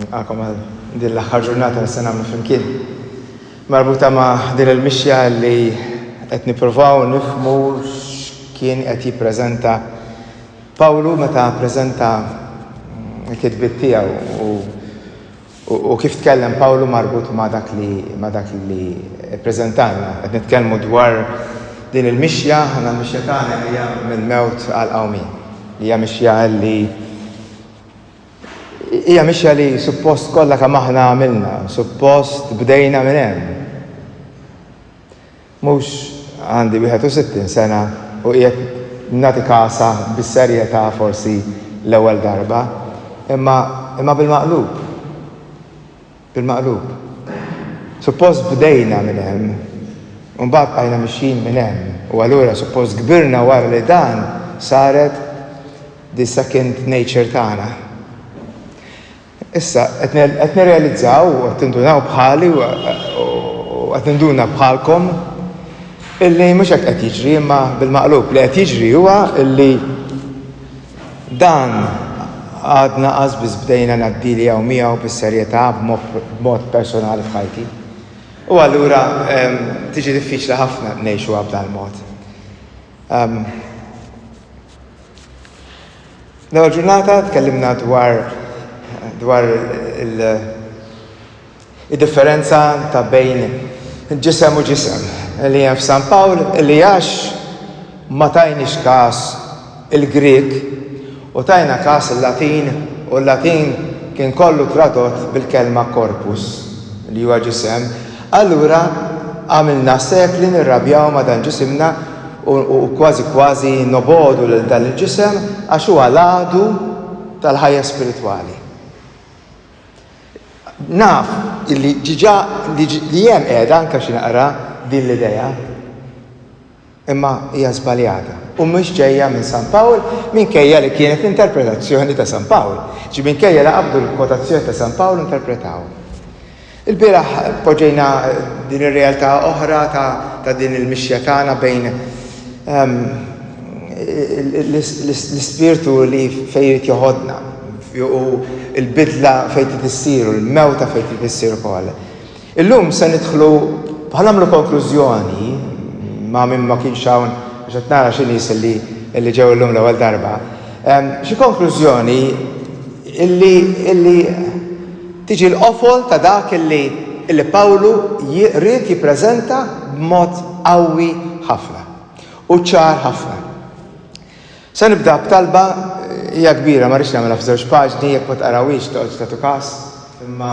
Nilqakom għal din l-aħħar ġurnata li se nagħmlu flimkien. Marbuta ma' din il-mixja li qed nippruvaw nifhmu x'kien qed jippreżenta Pawlu meta ppreżenta l-kitbiet tiegħu u U kif tkellem Pawlu marbut ma' dak li ma' dak li ppreżentalna? Qed nitkellmu dwar din il-mixja, aħna l-mixja tagħna hija mill-mewt għall-qawmien. Hija mixja li hija mixja li suppost kollha kemm aħna għamilna, suppost bdejna minn hemm. Mhux għandi 61 sena u qiegħed nagħti kasa bis-serjetà forsi l-ewwel darba, imma, imma bil-maqlub. Bil-maqlub. Suppost bdejna minn hemm, u mbagħad bqajna mixjin minn hemm, u allura suppost kbirna wara li dan saret the second nature tagħna. Issa, qed nirrealizzaw u qed tindunaw bħali u qed ninduna bħalkom illi mhux hekk qed jiġri imma bil-maqlub. Li qed jiġri huwa illi dan għadna qasbiss bdejna ngħaddili hawn miegħu bis-serjetà b'mod personali f'ħajti. U allura tiġi diffiċli ħafna ngħixuha b'dan il-mod. L-ewwel ġurnata tkellimna dwar dwar il-differenza ta' bejn ġisem u ġisem li hemm f'San Pawl li għax ma tajniex każ il-Grieg u tajna każ il-Latin u l-Latin kien kollu tradott bil-kelma corpus li huwa ġisem Allura għamilna sekli nirrabjaw ma' dan ġisimna u kważi kważi nobogħdu lil dan il-ġisem għax huwa l-għadu tal-ħajja spiritwali. Naf li diġà li hemm qiegħda anke xi naqra din l-idea. Imma hija żbaljata u mhux ġejja minn San Pawl minkejja li kienet l-interpretazzjoni ta' San Pawl. Ġi minkejja li qabdu l-kwotazzjoni ta' San Pawl u interpretawha. Ilbieraħ poġġejna din ir-realtà oħra ta' din il-mixja tagħna bejn ehm, l-ispirtu li fejn jrid joħodna u l-bidla fejn trid issir u l-mewta fejn trid issir ukoll. Illum se nidħlu u ħanagħmlu konklużjoni ma' min ma kienx hawn għax qed nara xi nies li ġew illum l-ewwel darba, xi konklużjoni li tiġi l-qofol ta' dak li Pawlu ried jippreżenta b'mod qawwi ħafna u ċar ħafna. Se nibda b'talba, hija kbira, ma rridx nagħmilha f'żewġ paġni, jekk ma tqarawhiex toqgħodx tagħtu kas, imma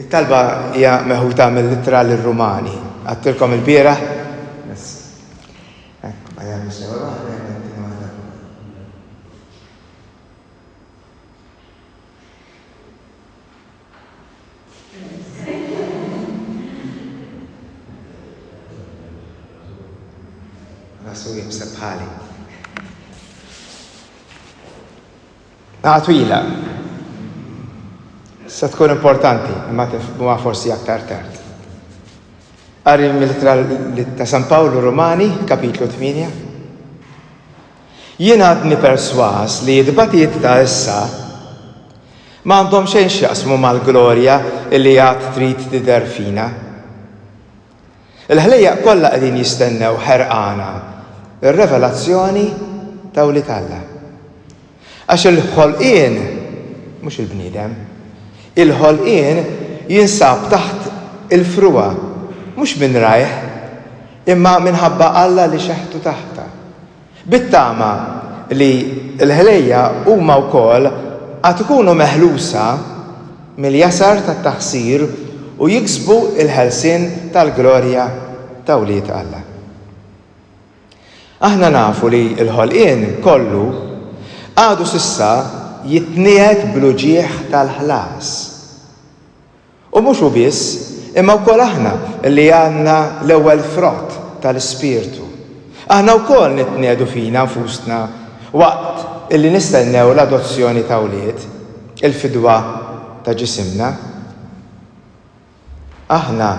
it-talba hija meħuta mill-ittra lir-Rumani. Għadtilkom il-bieraħ, Rasu jibsa bħali. Għatwila. Se tkun importanti, ma tifhmuha forsi aktar tard. Qari mill-ittra ta' San Pawlu Romani, kapitlu 8. Jien għadni persważ li t-tbatijiet ta' issa ma għandhom xejn x'jaqsmu mal-glorja li għad trid tidher fina. Il-ħlejjaq kollha qegħdin jistennew ħerqana r-revelazzjoni ta' wlied Alla. Għax il-ħolqien, mhux il-bniedem, il-ħolqien jinsab taħt il-frugħa, mhux minn rajh, Imma minħabba Alla li xeħtu taħtha. Bit-tama li l-ħlejja huma wkoll għad ikunu meħlusa mill-jasar tat-taħsir u jiksbu l-ħelsien tal-glorja ta' wlied Alla. Aħna nafu li l-ħolqien kollu għadu s'issa jitniegħed bl-uġigħ tal-ħlas. U mhux hu biss, imma wkoll aħna li għandna l-ewwel frott tal-Ispirtu. Aħna wkoll nitniegħdu fina nfusna waqt li nistennew l-adozzjoni ta' wlied, il-fidwa ta' ġisimna. Aħna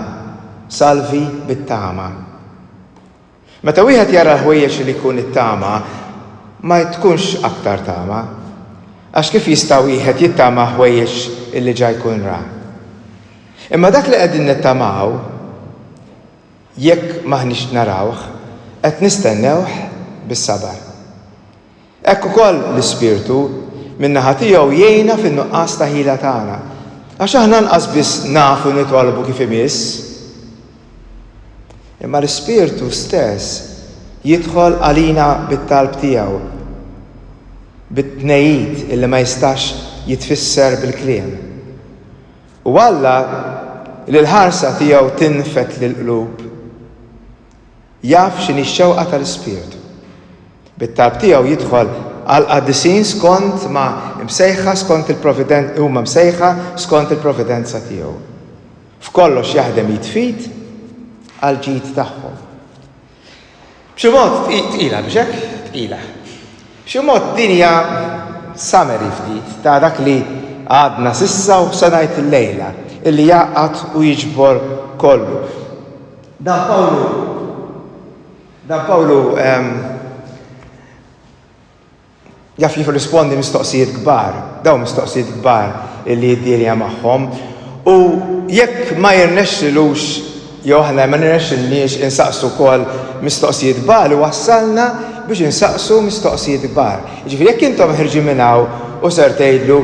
salvi bit-tama. Meta wieħed jara l-ħwejjeġ li jkun ittama, ma tkunx aktar tama. Għax kif jista' wieħed jittama ħwejjeġ li ġa jkun ra? Imma dak li qegħdin nittamaw, jekk m'aħniex narawh, qed nistennewh bis-sabar. Hekk ukoll l-Ispirtu, min-naħa tiegħu, jgħinna fin-nuqqas ta' ħila tagħna, għax aħna anqas biss nafu nitolbu kif imiss. Imma l-Ispirtu stess jidħol għalina bit-talb tiegħu, bit-tnegħid li ma jistax jitfisser bil-kliem. U Alla, li l-ħarsa tiegħu tinfed lill-qlub, Jaf x'inhi x-xewqa tal-Ispirtu. Bit-talb tiegħu jidħol għall-qaddisin skond ma msejħa skond il-providenza huma msejħa skond il-providenza tiegħu. F'kollox jaħdem id f'id għall-ġid tagħhom. B'xi mod tqila biex hekk tqila. B'xi mod din hija summary ftit ta' dak li għadna s'issa u se ngħid illejla, illi jgħaqqad u jiġbor kollu. Dan Pawlu Dan Pawlu jaf jirrispondi mistoqsijiet kbar, daw mistoqsijiet kbar illi jiddirja magħhom. U jekk ma jirnexxilux jew aħna ma nirnexxilniex insaqsu wkoll mistoqsijiet kbar u wassalna biex insaqsu mistoqsijiet kbar. Ġifieri jekk intom ħirġi minn hawn u ser tgħidlu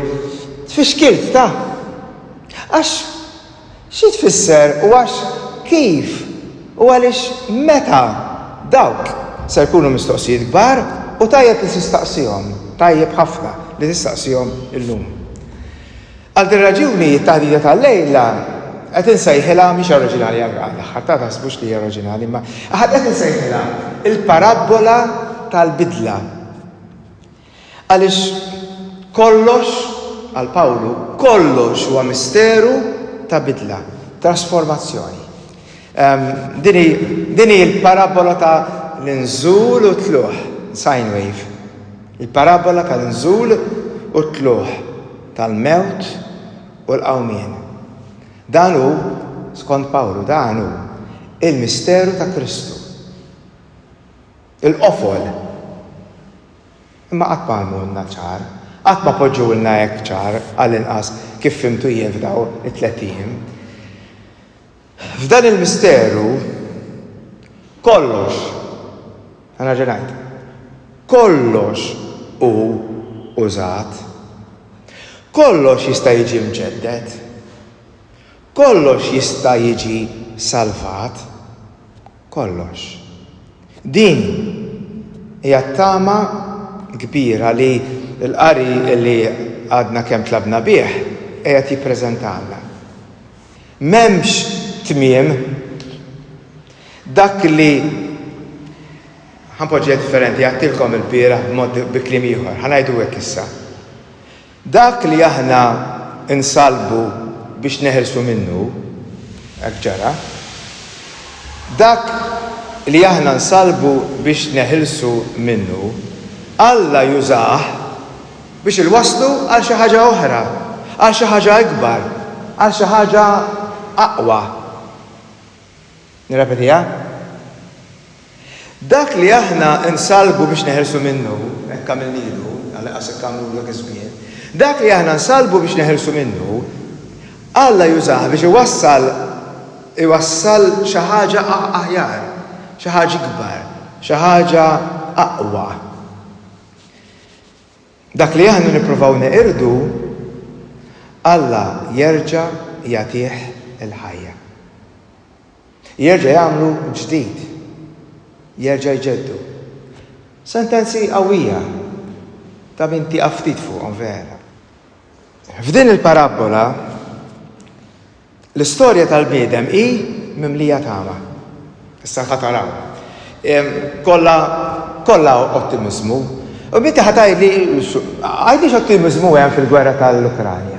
tfixkilt ta' għax Xi tfisser u għax kif u għaliex meta dawk ser jkunu mistoqsijiet kbar u tajjeb li tistaqsihom, tajjeb ħafna li tistaqsihom illum. Għal din raġuni t-taħdita tal-lejla qed insejħilha, mhix oriġinali għall-aħħar ta' taħsbux li hija oriġinali imma qed insejħilha l-parabbola tal-bidla. Għaliex kollox, għal Pawlu, kollox huwa misteru ta' bidla, trasformazzjoni. Din hi l-parabbola ta' l-inżul u t-tluħ, sine wave. Il-parabbola ta' l-inżul u t-tluħ, tal-mewt u l-qawmien. Dan hu, skont Pawlu, dan hu il-misteru ta' Kristu. Il-qofol. Imma qatt ma għamulna ċar, qatt ma poġġewlna hekk ċar, għall-inqas kif fhimtu jien f'daw it-tlett ijiem. F'dan il-misteru kollox, ħa nerġa' ngħid, kollox hu użat. Kollox jista' jiġi mġedded. Kollox jista' jiġi salvat. kollox. Din hija t-tama kbira li l-qari li għadna kemm tlabna bih qiegħed jippreżentalna. M'hemmx tmiem. Dak li, ħa npoġġiha differenti, għedtilkom ilbieraħ b'mod bi kliem ieħor, ħa ngħidu hekk issa. Dak li aħna nsallbu biex neħilsu minnu, hekk ġara. Dak li aħna nsallbu biex neħilsu minnu, Alla jużah biex ilwasslu għal xi ħaġa oħra, għal xi ħaġa ikbar, għal xi ħaġa aqwa. Nirrepetiha, Dak li aħna nsallbu biex neħilsu minnu, hekk għamilnielu, għalqas hekk għamlulu dak iż-żmien, dak li aħna nsallbu biex neħilsu minnu, Alla jużah biex iwassal, iwassal xi ħaġa aħjar, xi ħaġa ikbar, xi ħaġa aqwa. Dak li aħna nippruvaw neqirdu, Alla jerġa' jagħtih il-ħajja. Jerġa' jagħmlu ġdid. Jerġa' jġeddu. Sentenzi qawwija ta' min tieqaf ftit fuqhom vera. F'din il-parabbola, L-istorja tal-bniedem hi mimlija tama. Issa ħa taraw. Kollha kollha ottimiżmu. U binti ħa tgħidli għajdix ottimiżmu hemm fil-gwerra tal-Ukranja.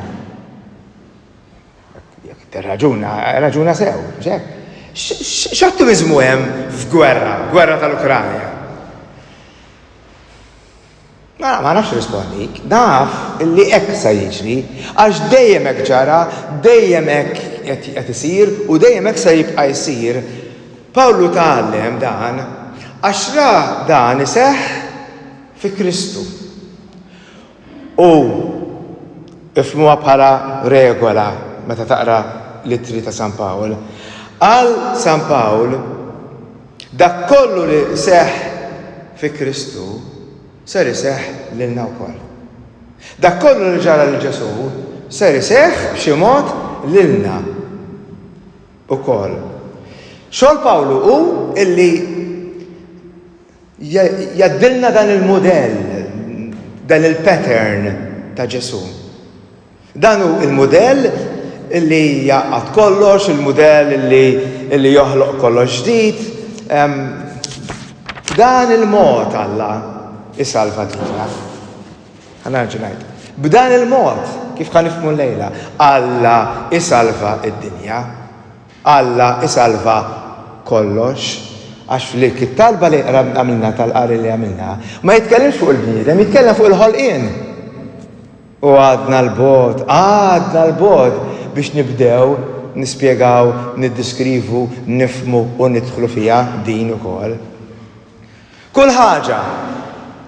Raġuna, raġuna sew, ġek. X'ottimizmu hemm f'gwerra, gwerra tal-Ukranja? Ma ma nafx rispondik, naf li hekk sa jiġri, għax dejjem hekk ġara, dejjem hekk qed isir u dejjem hekk sa jibqa' jsir. Pawlu tgħallem dan għax ra dan iseħħ fi Kristu. U ifhmuha bħala regola meta taqra l-ittri ta' San Pawl. Qal San Pawl Dak kollu li seħħ fi Kristu ser iseħħ lilna wkoll. Dak kollu li ġara lil Ġesù ser iseħħ b'xi mod lilna wkoll. Xogħol Pawlu hu illi jgħaddilna dan il-mudell, dan il-pattern ta' Ġesù. Dan hu l-mudell li jgħaqqad kollox, il-mudell li joħloq kollox ġdid. B'dan il-mod Alla isalva lilna. Ħana nerġa' ngħid. B'dan il-mod, kif ħa nifhmu lejla, Alla isalva id-dinja. Alla isalva kollox. Għax flik it-talba li għamilna tal-qari li għamilna, ma jitkellimx fuq il-bniedem, jitkellem fuq il-ħolqien. U għadna 'l bogħod, għadna 'l bogħod biex nibdew nispjegaw, niddiskrivu, nifhmu u nidħlu fiha din ukoll. Kull ħaġa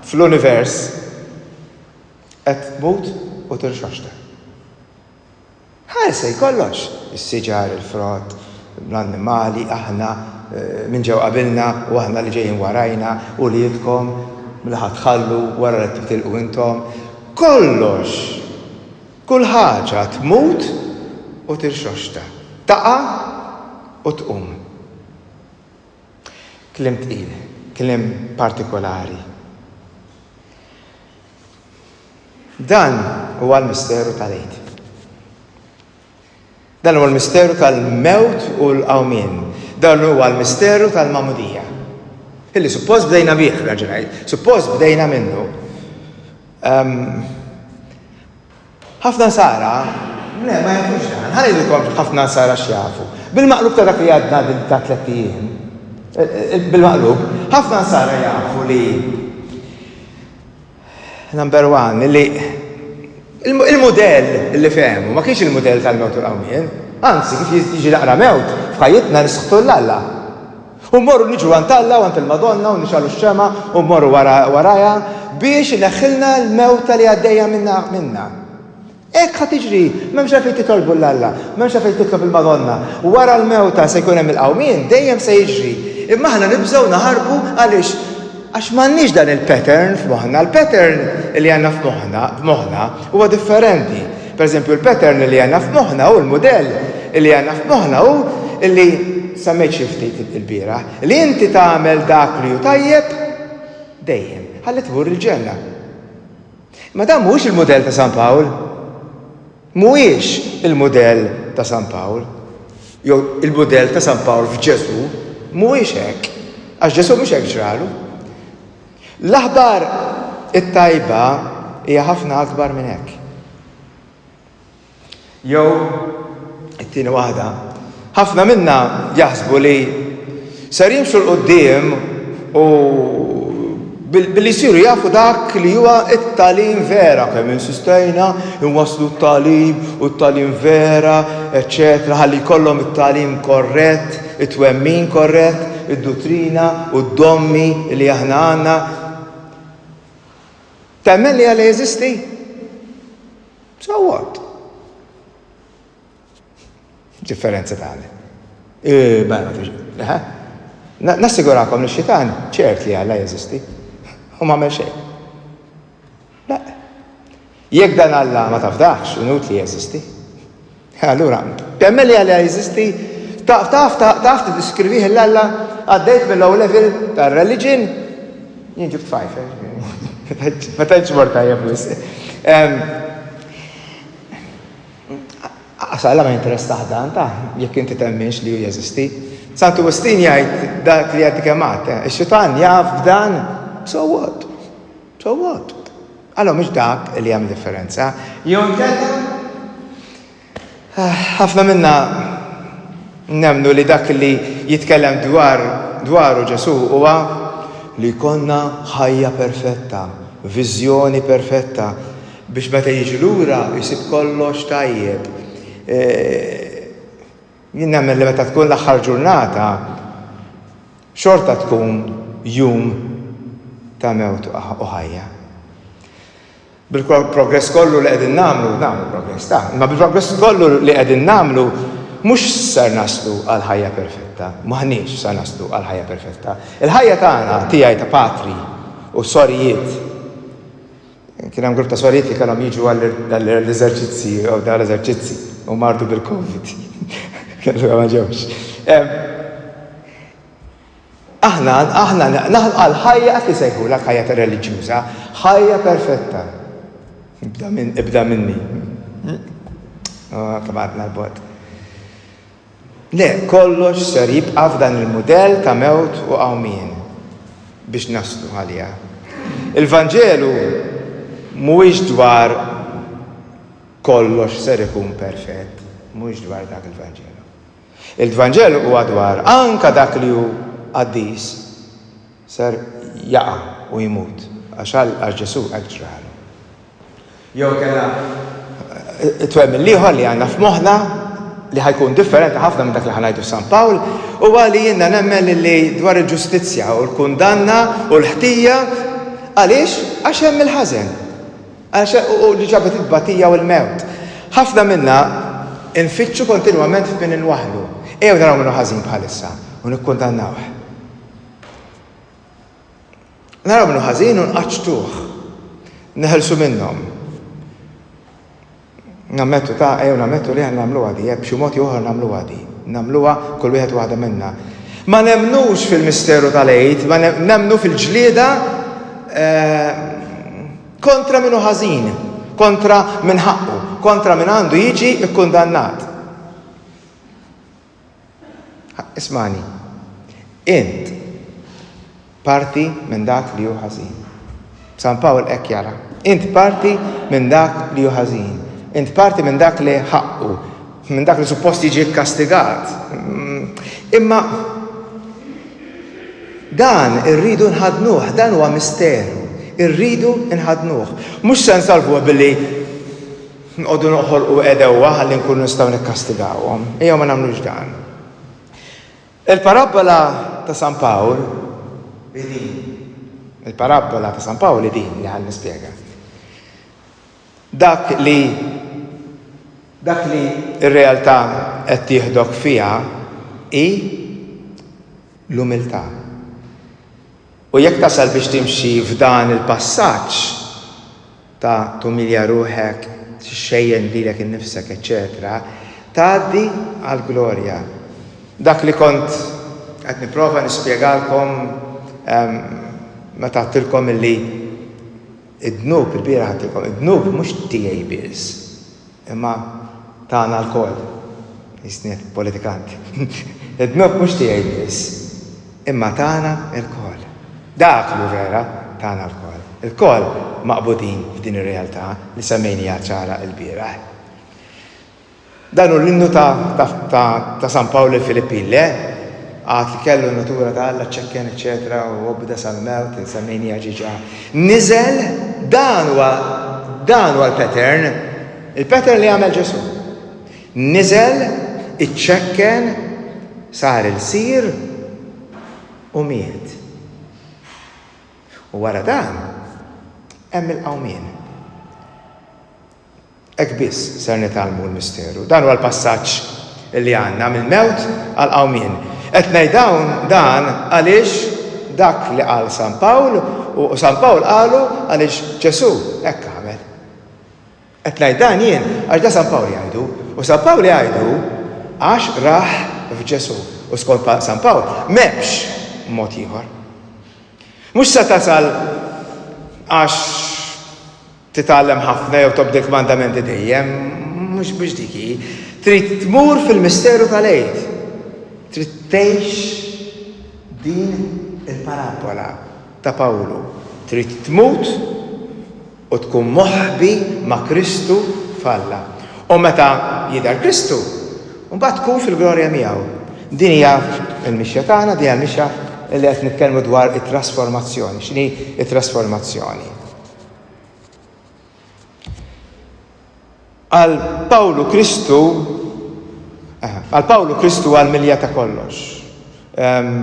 fl-univers qed tmut u tinxaxter. Ħarsej kollox, is-siġar, il-frott, l-annimali, aħna, min ġew qabilna u aħna li ġejjin warajna, uliedkom, li ħa tħallu wara li titilqu intom. Kollox! Kull ħaġa tmut u tirxoxta, taqa' u tqum. Kliem tqil, kliem partikolari. Dan huwa l-misteru tal-Għid. Dan huwa l-misteru tal-mewt u l-qawmien. Dan huwa l-misteru tal-mamudija. Illi suppost bdejna bih, raġunajt, suppost bdejna minnu. Ehm, Ħafna nsara le ma jafux dan. Ħa ngħidilkom ħafna nsara x'jafu. Bil-maqlub ta' dak li għadna din ta' tlett ijiem, bil-maqlub, ħafna nsara jafu li number one, li il-mudell li fehmu ma kienx il-mudell tal-mewt u l-qawmien. Anzi, kif jiġi naqra mewt, f'ħajjitna nisħtu 'l Alla. U mmorru niġu għand Alla u għand il-Madonna u nixgħalu x-xemgħa u mmorru warajha biex ineħħilna l-mewta li għaddejja minna. Hekk ħa tiġri, m'hemmx għalfejn titolbu lil Alla, m'hemmx għalfejn titlob il-Madonna. Wara l-mewta se jkun hemm il-qawmien, dejjem se jiġri. Imma aħna nibżgħu naħarbu għaliex? Għax m'għandniex dan il-pattern f'moħħna. Il-pattern li għandna f'moħħna huwa differenti. Pereżempju, il-pattern li għandna f'moħħna hu, l-mudell li għandna f'moħħna hu li, semmejt xi ftit ilbieraħ, li inti tagħmel dak li hu tajjeb dejjem, ħalli tmur il-ġenna. Imma dan mhuwiex il-mudell ta' San Pawl. Mhuwiex il-mudell ta' San Pawl. Jew il-mudell ta' San Pawl f'Ġesù mhuwiex hekk, għax Ġesù mhux hekk ġralu. L-aħbar it-tajba hija ħafna akbar minn hekk. Jew it-tieni waħda, ħafna minna jaħsbu li ser jimxu l qudiem u billi jsiru jafu dak li huwa it-talim vera, kemm insistejna inwasslu t-talim u t-talim vera, eċċetera, ħalli jkollhom it-talim korrett, it-twemmin korrett, id-duttrina u d-dommi li aħna għandna, temmen li Alla jeżisti? So what? Differenza tagħna. Eh, mela, eh? Nassigurakom li xitan ċert li Alla jeżisti. U ma xejn. Le. Jekk dan Alla ma tafdahx, inutli jeżisti. Allura, temmen li Alla jeżisti? Taf, taf, taf tiddiskrivih il-Alla? Għaddejt mill-low level tar-reliġin? Jien ġibt fajf, ma tantx mort tajjeb wis. Għax Alla ma jinteressaħ dan ta' jekk inti temminx li hu jeżisti. Santu Wistin jgħid dak li għaddi kemm għad, ix-xitan jaf b'dan, so what? So what? Allura mhux dak li jagħmel differenza. Jew inkella ah, ħafna minna nemnu li dak li jitkellem dwar dwaru Ġesu huwa li konna ħajja perfetta, viżjoni perfetta, biex meta jiġi lura jisib kollox tajjeb. Eh, Jien nemmen li meta tkun l-aħħar ġurnata xorta tkun jum ta' mewt u ħajja. Bil-progress kollu li qegħdin nagħmlu, nagħmlu progress ta', imma bil-progress kollu li qegħdin nagħmlu mhux sar naslu għal ħajja perfetta, m'aħniex sar naslu għal ħajja perfetta. Il-ħajja tagħna tiegħi ta' patri u sorijiet Kien hemm grupp ta' sorijiet li kellhom jiġu għall-eżerċizzji jew dar eżerċizzi u mardu bil-Covid. Kellu ma ġewx. Aħna, aħna, naħna għal ħajja qed isejħu l ħajja ta' reliġjuża, ħajja perfetta. Ibda minni. Kamatna l-bot. Le, kollox ser jibqa' f'dan il-mudell ta' mewt u qawmien biex naslu għaliha. Il-Vanġelu mhuwiex dwar kollox ser ikun perfett, mhuwiex dwar dak il-Vanġelu. Il-Vanġelu huwa dwar anke dak li hu qaddis. Ser jaqa' u jmut. Għax għal, għax Ġesù hekk ġralu. Jew inkella it-twemmin l-ieħor li għandna f'moħħna, li ħa jkun differenti ħafna minn dak li ħa ngħidu f'San Pawl, huwa li jiena nemmen lilli dwar il-ġustizzja u l-kundanna u l-ħtija, għaliex? Għax hemm il-ħażen. Għax u li ġabet it-tbatija u l-mewt. Ħafna minna nfittxu kontinwament f'min inwaħħlu. Ejjew naraw min hu ħażin bħalissa u nikkundannawh. Naraw minnu ħażin u nqaċċtuh. Neħelsu minnhom. Nammettu ta' ejjew nammettu li aħna nagħmluha di, eh, b'xi mod jew oħra nagħmluha di. Nagħmluha kull wieħed waħda minna. Ma nemmnux fil-misteru tal-għid, ma nemmnu fil-ġlieda eh, kontra minnu ħażin, kontra minn ħaqqu, kontra minn għandu jiġi kkundannat. Ismagħni. Int parti minn dak li hu ħażin. San Pawl hekk jara. Int parti minn dak li hu ħażin. Int parti minn dak li ħaqqu, minn dak li suppost jiġi kkastigat. Imma dan irridu nħadnuh, dan huwa misteru. Irridu nħadnuh. Mhux se nsalvuh billi Nqogħdu noħolqu għedewwa ħalli nkunu nistgħu nikkastigawhom. Ejjew ma nagħmlux dan. Il-parabbola ta' San Pawl hi din. Il-parabbola ta' San Pawl hi din li ħan nispjega. Dak li dak li r-realtà qed tieħdok fiha hi l-umiltà. U jekk tasal biex timxi f'dan il-passaġġ ta' tumilja ruħek, tixxejjen lilek innifsek, eċċetera, tgħaddi għall-glorja. Dak li kont qed nipprova nispjegalkom meta għedtilkom illi Id-dnub, ilbieraħ għedtilkom, id-dnub mhux tiegħi biss, imma tagħna lkoll. Qisni qed politikant. Id-dnub mhux tiegħi biss, imma tagħna lkoll. Dak li hu vera, tagħna lkoll. Ilkoll maqbudin f'din ir-realtà li semmejniha ċara ilbieraħ. Dan hu l-innu ta' San Pawl lill-Filippin, le? Għad li kellu n-natura ta' Alla ċċekken, eċċetera, u obda sal-mewt, insemmejniha ġiġa. Niżel, dan huwa dan huwa l-pattern, il-pattern li għamel Ġesu. Niżel, iċċekken, sar il-sir u miet. U wara dan, hemm il-qawmien. Hekk biss ser nitgħallmu l-misteru. Dan huwa l-passaġġ li għandna mill-mewt għall-qawmien. Qed ngħid dawn dan għaliex dak li qal San Pawl u San Pawl qalu għaliex Ġesù hekk għamel. Qed ngħid dan jien għax da San Pawl jgħidu u San Pawl jgħidu għax rah f'Ġesù u skont San Pawl m'hemmx mod ieħor. Mhux se tasal għax Titgħallem ħafna jew tobdi l-kmandamenti dejjem? Mhux mhux dik hi. Trid tmur fil-misteru tal-Għid. Trid tgħix din il-parabbola ta' Pawlu. Trid tmut u tkun moħbi ma' Kristu f'Alla. U meta jidher Kristu, mbagħad tkun fil-glorja miegħu. Din hija l-mixja tagħna, din hija l-mixja li qed nitkellmu dwar it-trasformazzjoni. X'inhi t-trasformazzjoni? Għal Pawlu Kristu għal Pawlu Kristu għal milja ta' kollox. Ehm,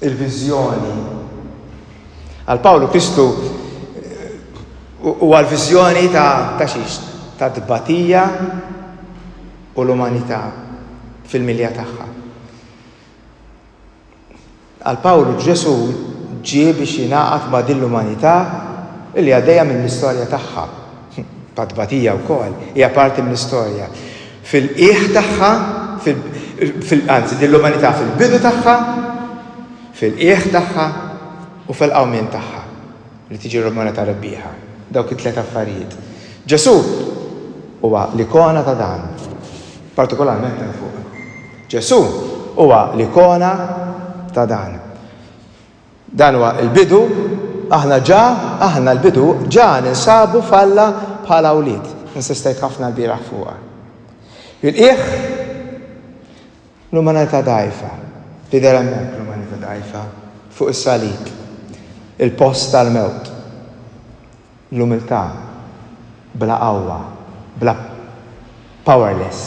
il-viżjoni. Għal Pawlu Kristu u għal viżjoni ta' ta' xiex, ta' dbatija u l-umanità fil-milja tagħha. Għal Pawlu Ġesù ġie biex jingħaqad ma' din l-umanità li għaddejja mill-istorja tagħha, ta' tbatija wkoll, hija parti mill-istorja, fil-qiegħ tagħha, fil, anzi, din l-umanità fil-bidu tagħha, fil-qiegħ tagħha u fil-qawmien tagħha li tiġi rmorata rebbieħa. Dawk it-tliet affarijiet. Ġesù huwa l-ikona ta' dan, partikolarment hemm fuq. Ġesù huwa l-ikona ta' dan. Dan huwa l-bidu, aħna ġa, aħna l-bidu, ġa ninsabu f'Alla bħala wlied. Insistejt ħafna lbieraħ fuqha. Il-qiegħ, l-umanità dgħajfa, tidher hemmhekk l-umanità dgħajfa, fuq is-salib, il-post tal-mewt. L-umiltà bla qawwa, bla powerless,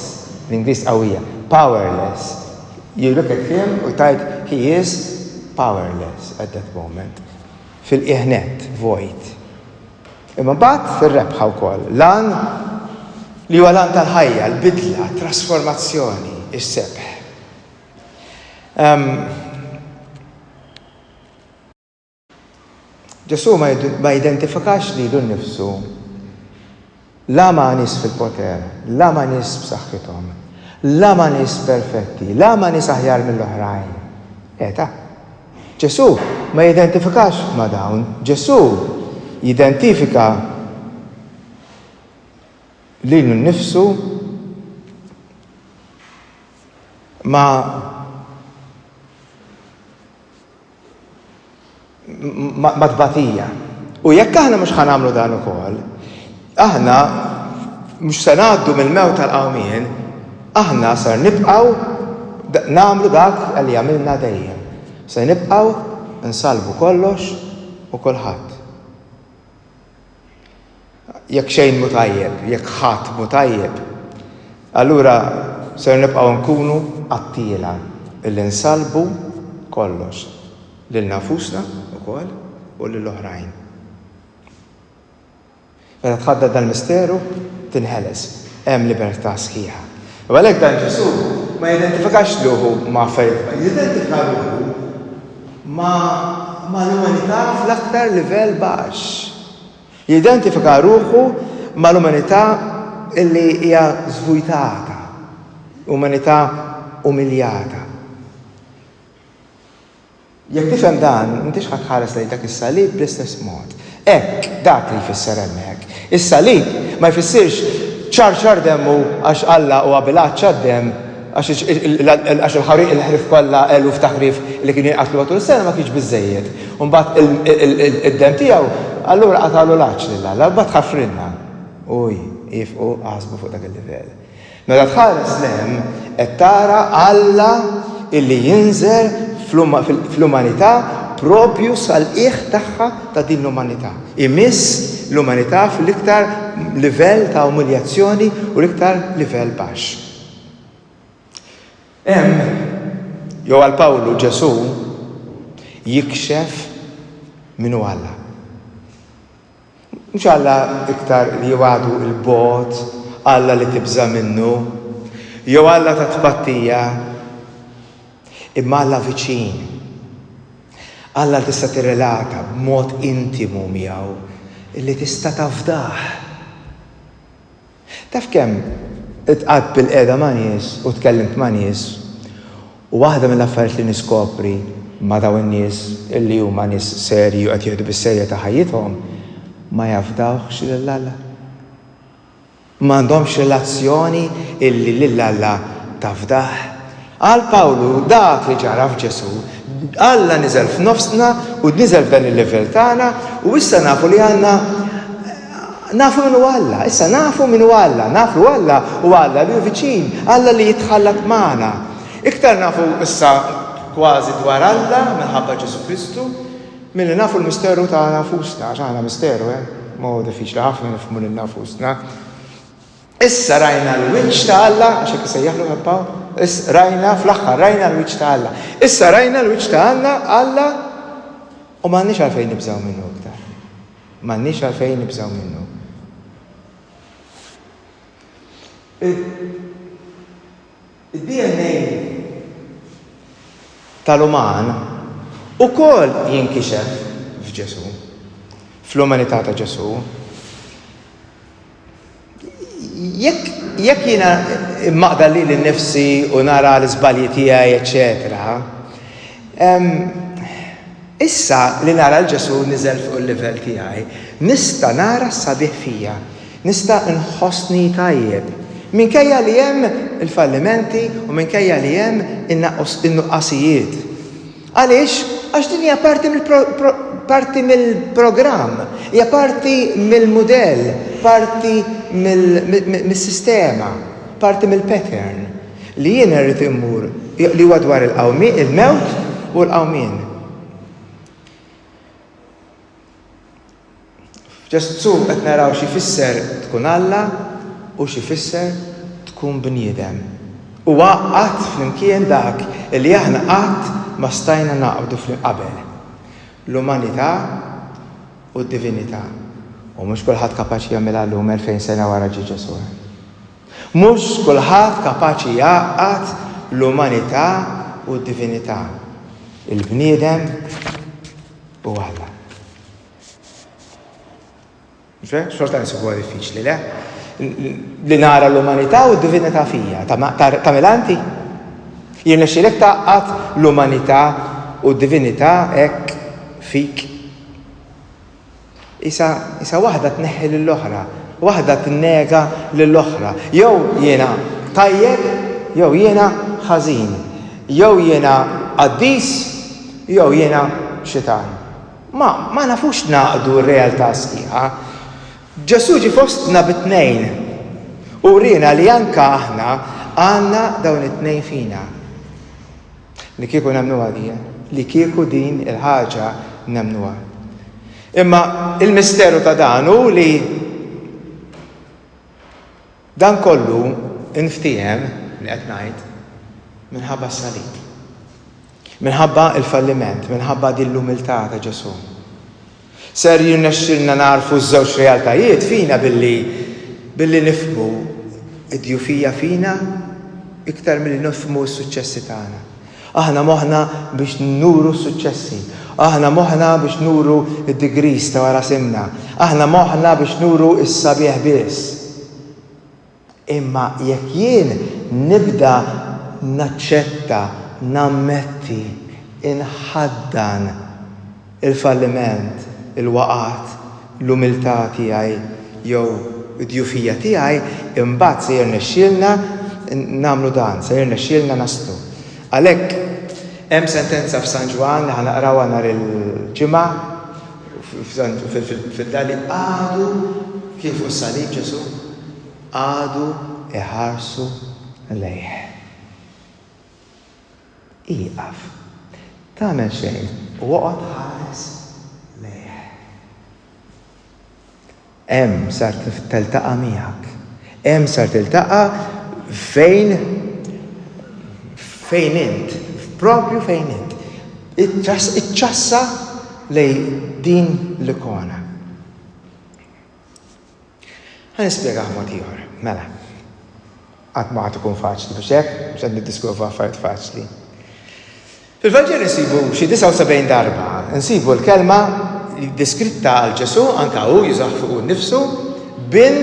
bl-Ingliż qawwija, powerless, you look at him u tgħid he is powerless at that moment, fil-qiegħ nett, vojt. Imma mbagħad fir-rebħa wkoll, l-għan li huwa l-għan tal-ħajja, l-bidla, t-trasformazzjoni, is-sebħ. Ehm, Ġesù ma jidentifikax lilu nnifsu la ma' nies fil-poter, la ma' nies b'saħħithom, la ma' nies perfetti, la ma' nies aħjar mill-oħrajn. Eta. Ġesù ma jidentifikax ma' dawn. Ġesù jidentifika lilu nnifsu ma' ma' tbatija. U jekk aħna mhux ħa nagħmlu dan ukoll, aħna mhux se ngħaddu mill-mewt għall-qawmien, aħna ser nibqgħu nagħmlu dak li għamilna dejjem. Se nibqgħu nsalbu kollox u kulħadd. Jekk xejn mhu tajjeb, jekk ħadd mhu tajjeb, allura ser nibqgħu nkunu qattiela li nsallbu kollox, lilna nfusna wkoll u lil oħrajn. Meta tħaddan dal-misteru, tinħeles, hemm libertà sħiħa. U għalhekk dan Ġesù ma jidentifikax ruħu ma' affarijiet oħra, jidentifika ruħu ma' mal-umanità fl-aktar livell baxx. Jidentifika ruħu mal-umanità li hija żvujtata, umanità umiljata. Jekk tifhem dan, m'intix ħa tħares lejn dak is-salib bl-istess mod. Hekk, dak li jfisser hemmhekk. Is-salib ma jfissirx ċarċar demmu għax Alla huwa bil-għatxha d-demm għax il-ħariq il-ħrif kollha eluf ta' ħrief li kienu jinqatlu matul is-sena ma kienx biżżejjed. U mbagħad id-demm tiegħu allura qatagħlu l-għatx lil Alla u mbagħad ħafrilna. Uj, iefqu aħsbu fuq dak il-livell. Meta tħares 'l hemm qed tara Alla illi jinżel fl-umanità proprju sal-qiegħ tagħha ta' din l-umanità. Imiss l-umanità fl-iktar livell ta' umiljazzjoni u l-iktar livell baxx. Hemm, jew għal Pawlu, Ġesù jikxef min hu Alla. Mhux Alla iktar li jibgħadu 'l bogħod, Alla li tibża' minnu, jew Alla ta' tpattija, imma Alla viċin, Alla li tista' tirrelata b'mod intimu miegħu, li tista' tafdah. Taf kemm iltqajt bilqiegħda ma' nies u tkellimt ma' nies u waħda mill-affarijiet li niskopri ma' dawn in-nies illi huma nies serji u qed jieħdu bis-serjetà ħajjithom, ma jafdawhx lil Alla. M'għandhomx relazzjoni illi lil Alla tafdah. Għal Pawlu dak li ġara f'Ġesù, Alla niżel f'nofsna u niżel f'dan il-livell tagħna u issa nafu li għandna nafu min huwa Alla, issa nafu min huwa Alla, naf li Alla huwa Alla li hu viċin, Alla li jitħallat magħna. Iktar nafu issa kważi dwar Alla minħabba Ġesù Kristu milli nafu l-misteru tagħna nfusna, għax aħna misteru, eh? Ma huwa diffiċli ħafna nifhmu lilna nfusna. Issa rajna l-wiċċ ta' Alla, għax hekk isejjaħlu Ħadd Pawl, is, rajna, fl-aħħar rajna l-wiċċ ta' Alla. Issa rajna l-wiċċ ta' Alla, Alla, u m'għandniex għalfejn nibżgħu minnu iktar. M'għandniex għalfejn nibżgħu minnu. Id-DNA tal-uman ukoll jinkixef f'Ġesù, fl-umanità ta' Ġesù. Jekk jekk jiena maqda li l-nifsi u nara l-izbalji tiegħi, eċċetera, Issa li nara 'l Ġesù niżel fuq il-livell tiegħi, nista' nara s-sabiħ fija. Nista' nħossni tajjeb. Minkejja li hemm il-fallimenti u minkejja li hemm in-nuqqasijiet. Għaliex? Għax din hija parti parti mill-programm, hija parti mill-mudell, parti mis-sistema, parti mill-pattern. Li jiena rrid immur, li huwa dwar il-qawmien, il-mewt u l-qawmien. F'Ġesù qed naraw xi jfisser tkun Alla u xi jfisser tkun bniedem. Huwa għaqqad flimkien dak li aħna qatt ma stajna nagħqdu qabel, l-umanità u d-divinità. U mhux kulħadd kapaċi jagħmilha llum, elfejn sena wara ġie Ġesù. Mhux kulħadd kapaċi jgħaqqad l-umanità u d-divinità, il-bniedem u Alla. Xorta nsibuha diffiċli, le? Li nara l-umanità u d-divinità fija, ta' milanti? Jirnexxilek taqqad l-umanità u d-divinità hekk fik? Isa waħda tneħħi lill-oħra, waħda tinnega lill-oħra. Jew jiena tajjeb jew jiena ħażin, jew jiena qaddis jew jiena xitan. Ma ma nafux nagħqdu r-realtà sħiħa. Ġesù ġie fostna bi tnejn u rina li anke aħna għandna dawn it-tnejn fina. Li kieku nemmnuha din. Li kieku din il-ħaġa nemmnuha. Imma il-misteru ta' dan hu li dan kollu nftiehem li qed ngħid minħabba s-salib. Minħabba l-falliment, minħabba din l-umiltà ta' Ġesù. Ser jirnexxilna nagħrfu ż-żewġ realtajiet fina billi billi nifhmu d-djufija fina iktar milli nifhmu s-suċċessi tagħna. Aħna moħħna biex nuru s-suċċessi. Aħna moħħna biex nuru d-degrees ta' wara simna. Aħna moħħna biex nuru s-sabiħ biss. Imma jekk jien nibda naċċetta, nammetti, inħaddan il-falliment, il-waqgħat, l-umiltà tiegħi jew id-dgħufija tiegħi, imbagħad se jirnexxielna nagħmlu dan, se jirnexxielna naslu. Għalhekk hemm sentenza f'San Ġwann li ħa naqrawha nhar il-Ġimgħa, Fid-dali qagħdu kien fuq is-salib Ġesù, qagħdu jħarsu lejh. Ieqaf. Tagħmel xejn u oqgħod ħares lejh. Hemm sar teltaqa' miegħek. Hemm sar tiltaqa' fejn fejn int, propju fejn int. Iċċassa lejn din l-ikona. Ħa nispjegah mod ieħor. Mela. Qatt ma għad ikun faċli, mhux hekk? Mhux qed niddiskutu fuq affarijiet faċli. Fil-Vanġelu nsibu xi 79 darba nsibu l-kelma li deskritta għal Ġesù anke hu jużah fuq nnifsu bil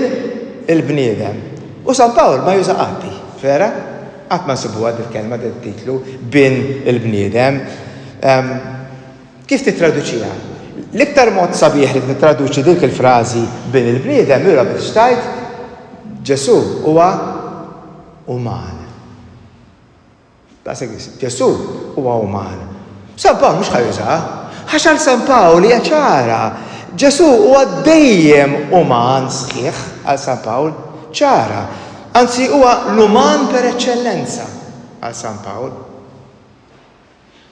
il-bniedem. U San Pawl ma juża qatt vera? Qatt ma nsibuha dil-kelma dil-titlu bin il-bniedem. Ehm, Kif tittraduċiha? L-iktar mod sabiħ li tittraduċi dik il-frażi Bin il-bniedem lura biex tgħid, Ġesù huwa uman. Daqshekk biss, Ġesù huwa uman. San Pawl mhux ħa jużaha, għax għal San Pawl hija ċara. Ġesù huwa dejjem uman sħiħ għal San Pawl, ċara. Anzi huwa l-uman per eċċellenza għal San Pawl.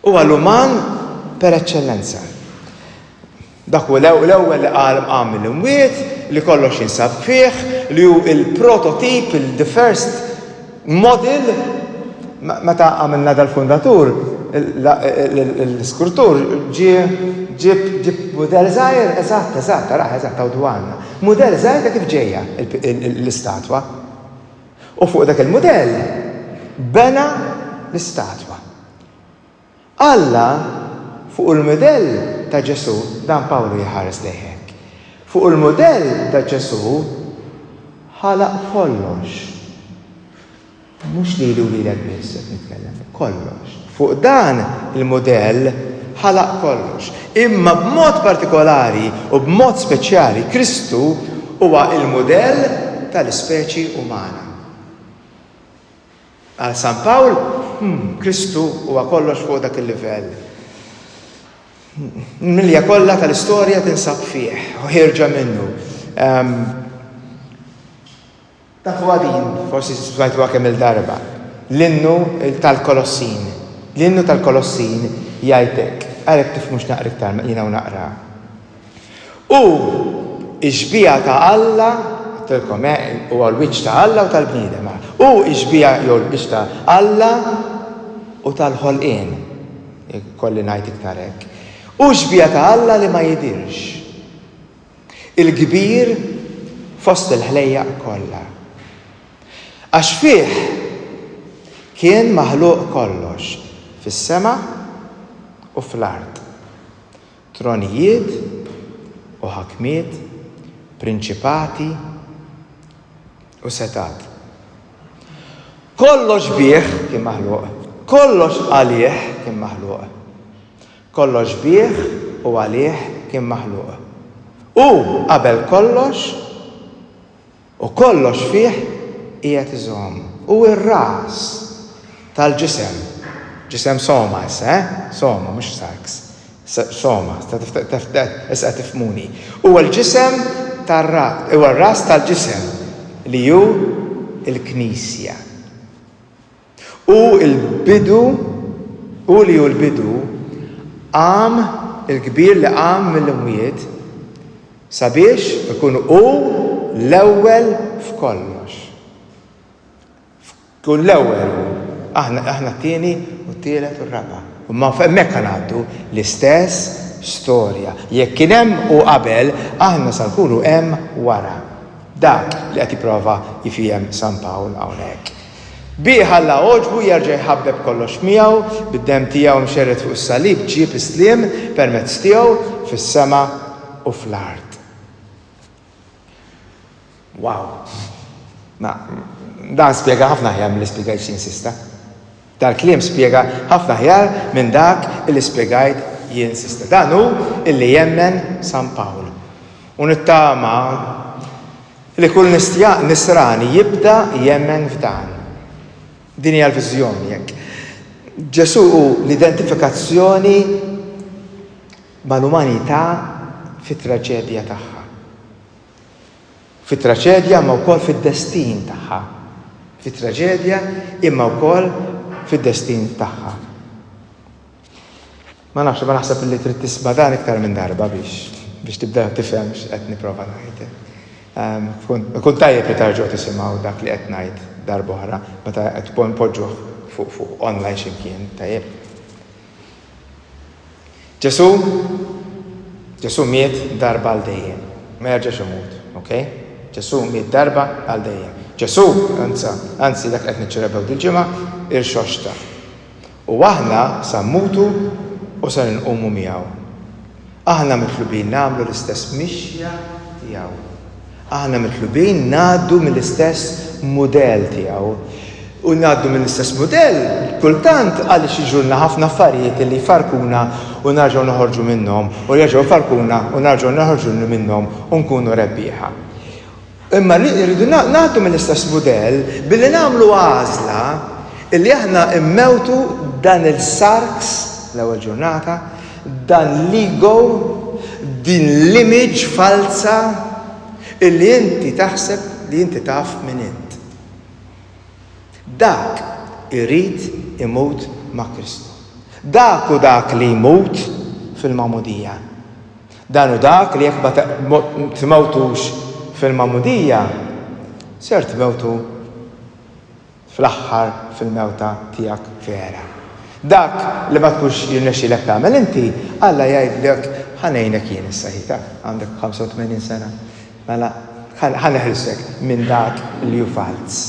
Huwa l-uman per eċċellenza. Dak hu l-ewwel li qal qam mill-imwiet, li kollox jinsab fih, li hu l-prototip, il-the first model. Meta għamilna dal-fundatur, l-iskurtur ġie ġieb ġieb mudell żgħir, eżatt, eżatt, araħ, eżatt, hawn dwarna. Mudell żgħir ta' kif ġejja l-istatwa. U fuq dak il-mudell bena l-istatwa. Alla fuq il-mudell ta' Ġesù, dan Pawlu jħares lejh hekk, fuq il-mudell ta' Ġesù ħalaq kollox. Mhux lili u lilek biss qed nitkellem, kollox. Fuq dan il-mudell ħalaq kollox. Imma b'mod partikolari u b'mod speċjali Kristu huwa l-mudell tal-ispeċi umana. Għal San Pawl, hmm, Kristu huwa kollox fuq dak il-livell. Milja kollha tal-istorja tinsab fih u ħirġa minnu. Um, Tafuha din, forsi smajtuha kemm-il darba, l-innu tal-Kolossin. L-innu tal-Kolossin jgħid hekk, għalhekk tifhmux naqra iktar ma jiena u naqra. U x-xbieha ta' Alla, għedtilkom eh, huwa l-wiċċ ta' Alla u tal-bniedem. U x-xbieha jew l-biċċ ta' Alla u tal-ħolqien. Kolli ngħid iktar hekk. U x-xbieha ta' Alla li ma jidhirx. il-kbir fost il-ħlejjaq kollha. Għax fih kien maħluq kollox fis-sema u fl-art, tronijiet u ħakmiet, prinċipati u setgħat. Kollox bih kien maħluq, kollox għalih kien maħluq. Kollox bih u għalih kien maħluq. Hu qabel kollox u kollox fih qiegħed iżomm. Hu r-ras tal-ġisem, ġisem soma issa, eh, soma mhux sarx, soma, issa qed tifhmuni. Huwa l-ġisem tar-ras, huwa r-ras tal-ġisem li hu l-Knisja. Hu l-bidu, Hu li hu l-bidu, qam, il-kbir li qam mill-imwiet, sabiex ikun hu l-ewwel f'kollox. Jkun l-ewwel hu, aħna aħna t-tieni u t-tielet u r-raba'. Imma hemmhekk ħa ngħaddu, l-istess storja. Jekk kien hemm hu qabel, aħna sa nkunu hemm wara. Dak li qed jipprova jfiehem San Pawl hawnhekk. Bih Alla għoġbu jerġa' jħabbeb kollox miegħu, bid-demm tiegħu mxerred fuq is-salib ġieb is-sliem permezz tiegħu fis-sema u fl-art. Wow! Ma, dan spjega ħafna aħjar milli spjegajt xi insista. Dal-kliem spjega ħafna aħjar minn dak li spjegajt jien s'issa. Dan hu li jemmen San Pawl. U nittama Li kull Nisrani jibda jemmen f'dan. Din hija l-viżjoni jekk. Ġesù hu l-identifikazzjoni mal-umanità fit-traġedja tagħha. Fit-traġedja imma wkoll fid-destin tagħha. Fit-traġedja imma wkoll fid-destin tagħha. Ma nafx, imma naħseb li trid tisma' dan iktar minn darba biex biex tibda tifhem x'qed nipprova ngħid. Ikun tajjeb li tarġgħu tisimgħu dak li qed ngħid darb'oħra meta qed tkun poġġuh fuq fuq online x'imkien, tajjeb. Ġesu' Ġesu' miet darba għal dejjem, ma jerġax imut, ok? Ġesu' miet darba għal dejjem. Ġesu', anza, anzi dak qed niċċelebraw dil-ġimgħa, irxoxta. U aħna sa mmutu u ser inqumu miegħu. Aħna mitlubin nagħmlu l-istess mixja tiegħu. Aħna mitlubin ngħaddu mill-istess mudell tiegħu. U ngħaddu mill-istess mudell kultant għaliex jiġulna ħafna affarijiet li jfarrkuna u nerġgħu noħorġu minnhom u jerġgħu jfarrkuna u nerġgħu noħorġu minnhom u nkunu rebbieħa. Imma rridu ngħaddu mill-istess mudell billi nagħmlu għażla li aħna mmewtu dan il-sarks, l-ewwel ġurnata, dan l-ego, din l-image falza li inti taħseb li inti taf min int. Dak irid imut ma' Kristu. Dak hu dak li jmut fil-magħmudija. Dan hu dak li jekk ma tmewtux fil-magħmudija, ser tmewtu fl-aħħar fil-mewta tiegħek vera. Dak li ma tkunx jirnexxilek tagħmel inti, Alla jgħidlek ħa ngħinek jien issa hi taf, għandek 85 sena, mela ħa neħilsek minn dak li hu falz.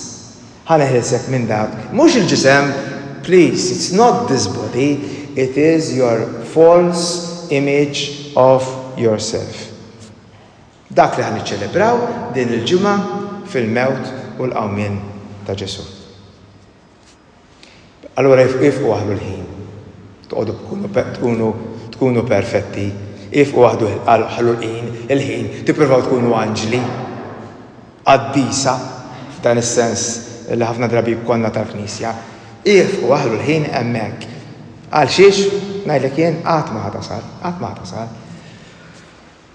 Ħa neħilsek minn dak. Mhux il-ġisem, please, it's not this body, it is your false image of yourself. Dak li ħa niċċelebraw din il-ġimgħa fil-mewt u l-qawmien ta' Ġesù. Allura ifqu waħdu l-ħin. Toqgħodu tkunu tkunu perfetti. Ifqu waħdu ħallu l-ħin, il-ħin, tippruvaw tkunu anġli, qaddisa, f'dan is-sens li ħafna drabi jkollna tal-Knisja. Ifqu waħlu l-ħin hemmhekk. Għalxiex, ngħidlek jien, qatt ma ħa tasal, qatt ma ħa tasal.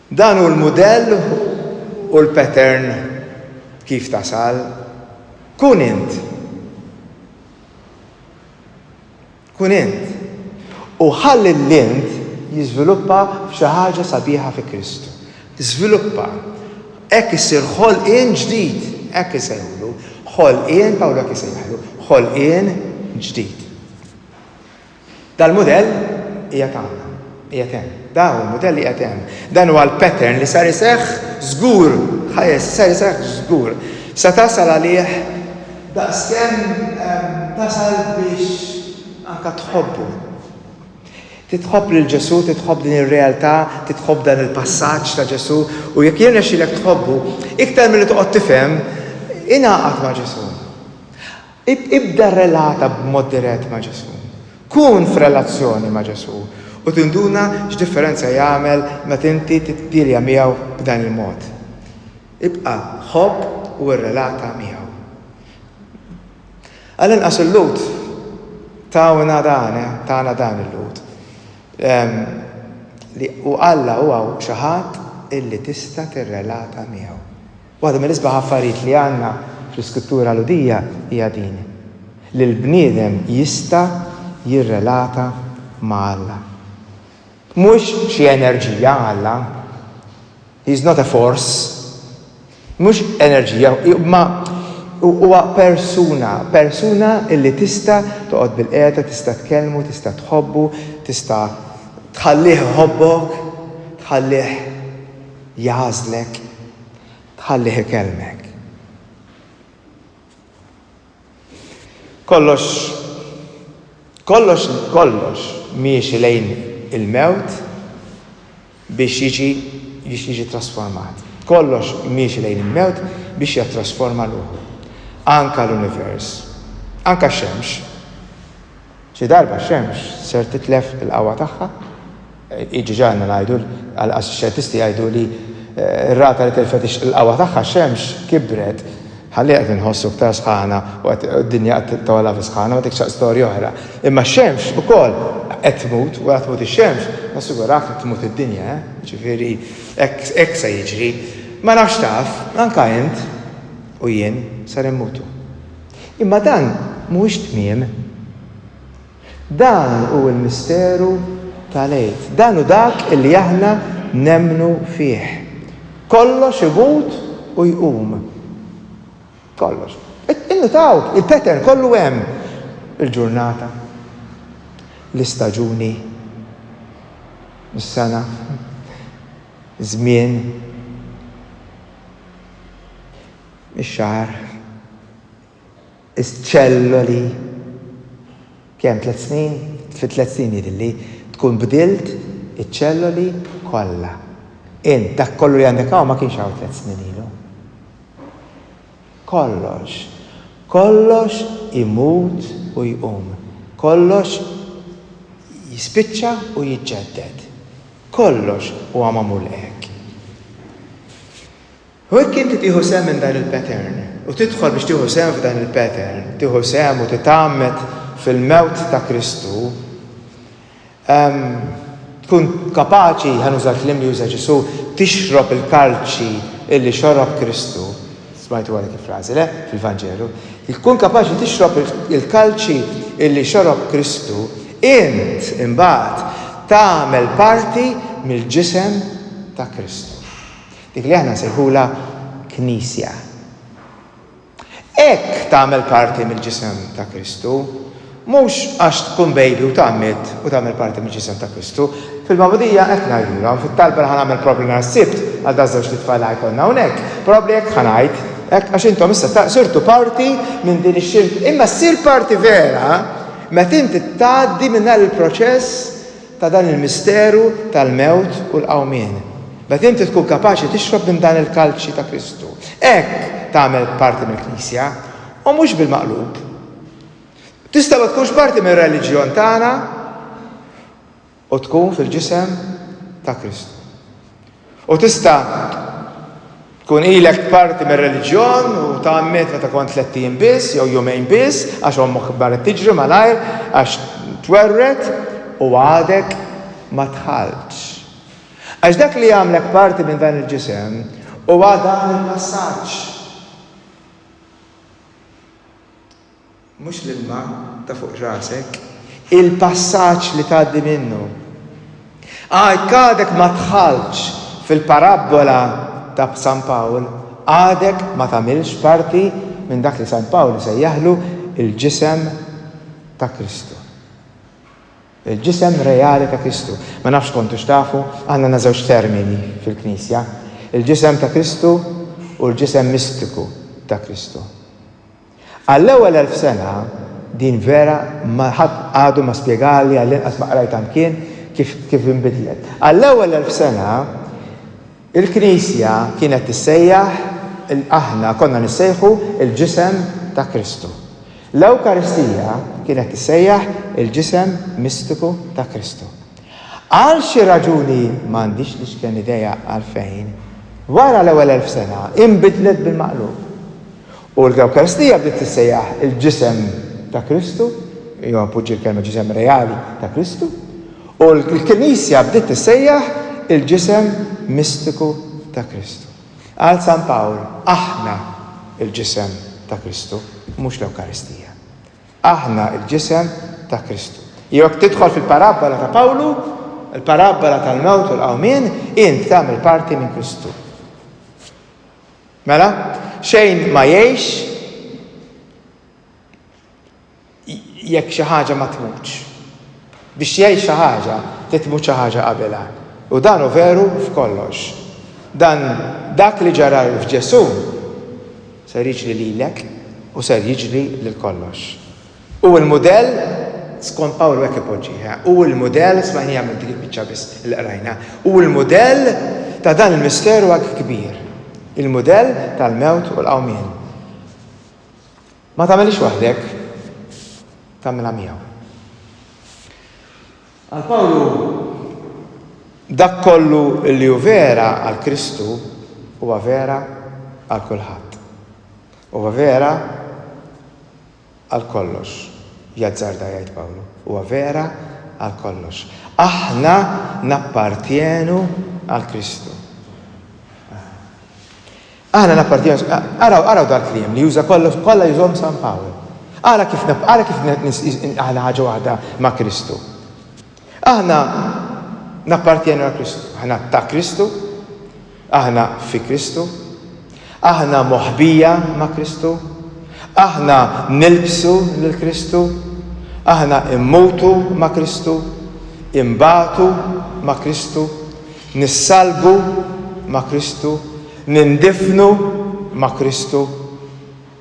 Dan hu l-mudell u l-pattern kif tasal. Kun int. Kun int. U ħalli l-int jiżviluppa f'xi ħaġa sabiħa fi Kristu. Żviluppa. Hekk issir ħolqien ġdid, hekk isejħulu. Ħolqien, Pawlu hekk isejjaħlu, ħolqien ġdid. Dal-mudell qiegħed hawn, qiegħed hemm. Dan hu l-mudell li qiegħed hemm. Dan huwa l-pattern li sar iseħħ żgur, ħajes, sar iseħħ żgur. Se tasal għalih daqskemm tasal biex anke tħobbu. Titħobb lil Ġesù, titħobb din ir-realtà, titħobb dan il-passaġġ ta' Ġesù u jekk jirnexxilek tħobbu, iktar milli toqgħod tifhem, ingħaqad ma' Ġesù. Ibda rrelata b'mod dirett ma' Ġesù. Kun f'relazzjoni ma' Ġesù u tinduna x'differenza jagħmel meta inti tiddilja miegħu b'dan il-mod. Ibqa' ħobb u rrelata miegħu. Għall-inqas il-Lhud tawna dan, eh, tana dan il-Lhud, li u Alla huwa xi ħadd illi tista' tirrelata miegħu. Waħda mill-isbaħ affarijiet li għandna fl-iskrittura Lhudija hija din, li l-bniedem jista' jirrelata ma' Alla. Mhux xi enerġija Alla, he is not a force, mhux enerġija, imma huwa persuna, persuna li tista' toqgħod bilqiegħda, tista' tkellmu, tista' tħobbu, tista' tħallih iħobbok, tħallih jagħżlek. Tħallih ikellmek. Kollox, kollox, kollox miexi lejn il-mewt biex jiġi, biex jiġi ttrasformat. Kollox miexi lejn il-mewt biex jattrasforma ruħu. Anka l-univers. Anka x-xemx. Xi darba x-xemx ser titlef il-qawwa tagħha Iġiġanna ngħidu, għall-inqas ix-xjentisti jgħidu li r-rata li tilfet il-qawwa tagħha x-xemx kibret, ħalliha qed inħossu iktar sħana u qed id-dinja qed togħla fis-sħana, ma dik xa storja oħra. Imma x-xemx ukoll qed tmut, wara tmut ix-xemx, nassigurak li tmut id-dinja, eh. Jiġifieri hekk hekk se jiġri. Ma nafx taf, anke int u jien ser immutu. Imma dan mhuwiex tmiem. Dan hu l-misteru tal-Għid. Dan hu dak li aħna nemmnu fih. Kollox imut u jqum. Kollox. Innutaw, il-pattern kollu hemm. Il-ġurnata, l-istaġuni, is-sena, iż-żmien, ix-xahar. iċ-ċelloli kemm tliet snin? Fi tliet snin jidhirli tkun bdilt iċ-ċelloli kollha. Int dak kollu li għandek hawn ma kienx hawn tliet snin ilu. Kollox. Kollox imut u jqum. Kollox jispiċċa u jiġġedded. Kollox huwa magħmul hekk. U jekk inti tieħu sehem minn dan il-pattern, u tidħol biex tieħu sehem f'dan il-pattern, tieħu sehem u titgħammed fil-mewt ta' Kristu, tkun kapaċi, ħa nuża l-kliem li uża Ġesù, tixrob il-kalċi illi xorob Kristu. Smajtuha dik il-frażi, le? Fil-Vanġelu. Tkun kapaċi tixrob il-kalċi illi xorob Kristu, int imbagħad tagħmel parti mill-ġisem ta' Kristu. Dik li aħna nsejħulha Knisja. Hekk tagħmel parti mill-Ġisem ta' Kristu. Mhux għax tkun baby u tgħammed u tagħmel parti mill-Ġisem ta' Kristu. Fil-magħmudija hekk ngħidulhom, fit-talba li ħa nagħmel probabbli nhar is-Sibt għal daż-żewġt itfal li ħa jkollna hawnhekk, probabbli hekk ħa ngħid, hekk għax intom issa sirtu parti minn din ix-xirka. Imma ssir parti vera meta inti tgħaddi minn dan il-proċess ta' dan il-misteru tal-mewt u l-qawmien, meta inti tkun kapaċi tixrob minn dan il-kalċi ta' Kristu, hekk tagħmel parti mill-Knisja, u mhux bil-maqlub. Tista' ma tkunx parti mir-reliġjon tagħna u tkun fil-ġisem ta' Kristu. U tista' tkun ilek parti mir-reliġjon u tgħammed meta kont tlett ijiem biss jew jumejn biss għax ommok marret tiġri malajr għax twerwret u għadek ma dħaltx. Għax dak li jagħmlek parti minn dan il-ġisem huwa dan il-passaġġ. Mhux l-ilma ta' fuq rasek. Il-passaġġ li tgħaddi minnu. Ah, jekk għadek ma dħaltx fil-parabbola ta' San Pawl, għadek ma tagħmilx parti minn dak li San Pawl isejjaħlu l-ġisem ta' Kristu. Il-ġisem reali ta' Kristu. Ma nafx kontux tafu, aħna għandna żewġ termini fil-Knisja, il-ġisem ta' Kristu u l-ġisem mistiku ta' Kristu. Għall-ewwel elf sena, din vera ma ħadd għadu ma spjegalha, għall-inqas ma qrajtha mkien, kif kif inbidlet. Għall-ewwel elf sena, il-Knisja kienet tissejjaħ il aħna konna nissejħu l-Ġisem ta' Kristu. L-Ewkaristija kienet tissejjaħ il-Ġisem mistiku ta' Kristu. Għal xi raġuni m'għandix l-iċken idea għalfejn, wara l-ewwel elf sena, inbidlet bil-maqlub. U l-Ewkaristija bdiet tissejjaħ il-Ġisem ta' Kristu, jew appoġġi l-kelma Ġisem reali ta' Kristu, u l-Knisja bdiet tissejjaħ il-Ġisem mistiku ta' Kristu. Qal San Pawl, Aħna l-Ġisem ta' Kristu, mhux l-Ewkaristija. Aħna l-Ġisem ta' Kristu. Jew jekk tidħol fil-parabbola ta' Pawlu, il-parabbola tal-mewt u l-qawmien, int tagħmel parti minn Kristu. Mela, xejn ma jgħix jekk xi ħaġa ma tmutx. Biex jgħix xi ħaġa, trid tmut xi ħaġa qabilha. U dan hu veru f'kollox. Dan dak li ġara f'Ġesù ser jiġri lilek u ser jiġri lil kollox. Hu l-mudell, skont Pawlu hekk ipoġġiha, hu l-mudell, smajniha minn dik il-biċċa biss li qrajna, hu l-mudell ta' dan il-misteru hekk kbir, il-mudell tal-mewt u l-qawmien. Ma tagħmilhiex waħdek, tagħmilha miegħu. Għal Pawlu dak kollu li hu vera għal Kristu huwa vera għal kulħadd. Huwa vera għal kollox, jazzarda jgħid Pawlu. Huwa vera għal kollox. Aħna nappartjenu għal Kristu. Aħna nappartjenu, araw, araw dal kliem li juża kollox, kollha jużhom San Pawl. Ara kif ara kif aħna ħaġa waħda ma' Kristu. Aħna nappartjenu għal Kristu, aħna ta' Kristu, Aħna fi Kristu. Aħna moħbija ma' Kristu. Aħna nilbsu lil Kristu. Aħna immutu ma' Kristu. Inbagħtu ma' Kristu. Nissalbu ma' Kristu. Nindifnu ma' Kristu.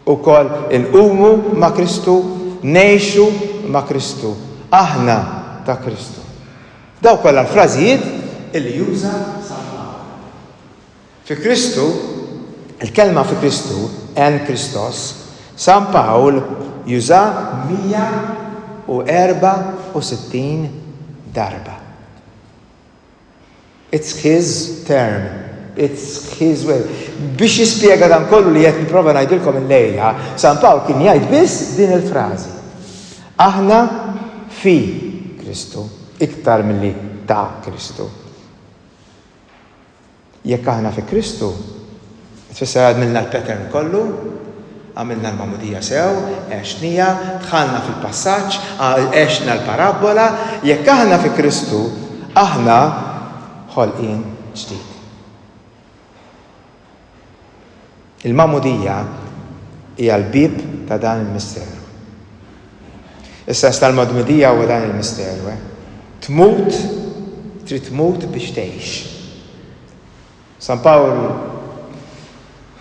Ukoll inqumu ma' Kristu. Ngħixu ma' Kristu. Aħna ta' Kristu. Dawn kollha l-frażijiet li juża San Pawl. Fi Kristu, il-kelma fi Kristu, en Christos, San Pawl jużaha 164 darba. It's his term, it's his way. Biex jispjega dan kollu li qed nipprova ngħidilkom illejla, San Pawl kien jgħid biss din il-frażi. Aħna fi Kristu iktar milli ta' Kristu. Jekk aħna fi Kristu, tfisser għadmilna l-pattern kollu, għamilna l-magħmudija sew, għexnija, dħalna fil-passaġġ, għexna l-parabbola, jekk aħna fi Kristu, aħna ħolqien ġdid. Il-magħmudija hija l-bieb ta' dan il-misteru. Is-sens tal-magdmudija huwa dan il-misteru, eh? Tmut, trid tmut biex tgħix. San Pawl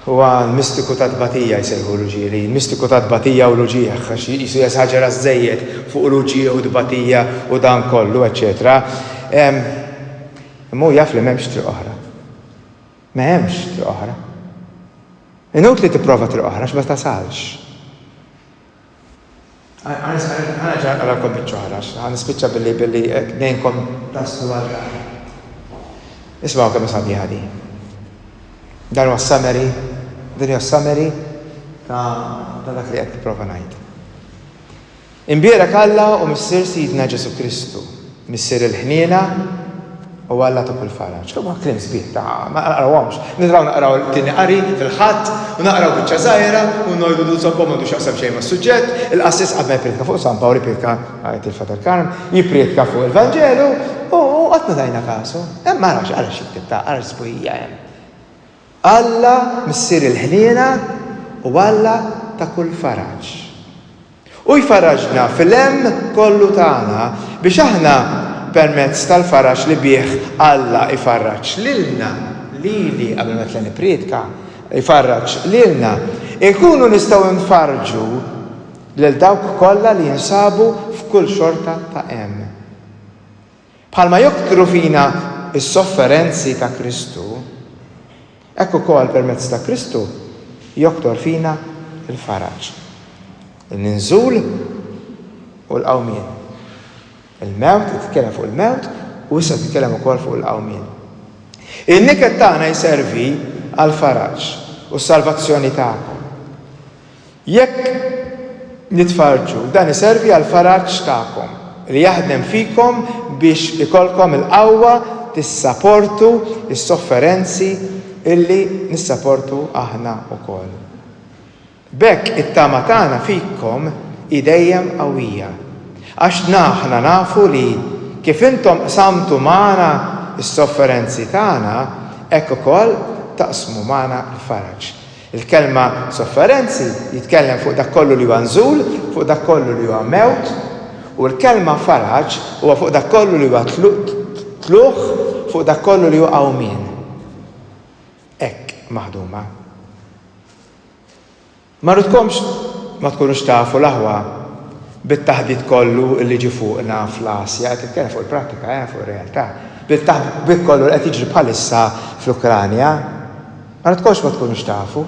huwa l-mistiku ta' tbatija jsejħu l-uġieli, mistiku ta' tbatija u l-uġieħ, għax jisu jesaġera żejjed fuq l-uġieħ u tbatija u dan kollu, eċċetera. Imma jaf li m'hemmx triq oħra. Ma hemmx triq oħra. Inutli tipprova triq oħra għax ma tasalx. Għana ġan għalakom bieċoħra, għan nispicċa billi billi eh, nejnkom taslu għal Ismaw kemm sabiħa di. Dan huwa summary, din hija summary ta' dak li qed nipprova ngħid. Imbierek Alla u Missier Sidna Ġesù Kristu, Missier il-ħniena u Alla ta' kull faraġ. Huma kliem sbieħ ta' ma naqrawhomx. Nidraw naqraw it-tieni qari fil-Ħadd u naqraw biċċa żgħira u ngħidu li suppo m'għandu x'jaqsam xejn mas-suġġett, il-qassis qabel ma jprietka fuq San Pawl iprietka, jgħid il-Father Karm, jipprietka fuq il-Vanġelu u qatt ma tajna kasu. Hemm ara x'jikteb ta' ara x'sbuħija hemm. Alla Missier il-ħniena u Alla ta' kull faraġ. Hu jfarraġna fil-hemm kollu tagħna biex aħna, permezz tal-faraġ li bih Alla jfarraġ lilna, lili qabel ma nitla' nippriedka, jfarraġ lilna, inkunu nistgħu nfarrġu lil dawk kollha li jinsabu f'kull xorta ta' hemm. Bħalma joktru fina s-sofferenzi ta' Kristu, hekk ukoll permezz ta' Kristu joktor fina l-faraġ, in-ninżul u l-qawmien. Il-mewt, qed jitkellem fuq il-mewt u issa qed jitkellem ukoll fuq il-qawmien. In-niket tagħna jservi għall-faraġ u s-salvazzjoni tagħkom. Jekk nitfarrġu, dan iservi għall-faraġ tagħkom, li jaħdem fikom biex ikollkom il-qawwa tissaportu s-sofferenzi li nissaportu aħna wkoll. B'hekk it-tama tagħna fikom hi dejjem qawwija, għax aħna nafu li, kif intom qsamtu magħna s-sofferenzi tagħna, hekk ukoll taqsmu magħna l-faraġ. Il-kelma sofferenzi jitkellem fuq dak kollu li huwa nżul, fuq dak kollu li huwa mewt, u l-kelma faraġ huwa fuq dak kollu li huwa tlugħ, fuq dak kollu li hu qawmien. Hekk maħduma. Ma rridkomx ma tkunux tafu l-aħwa bit-taħbit kollu li ġi fuqna fl-Asja, qed nitkellem fuq il-prattika, fuq ir-realtà, bil-taħbit kollu li qed jiġri bħalissa fl-Ukranja. Ara tkomx ma tkunux tafu.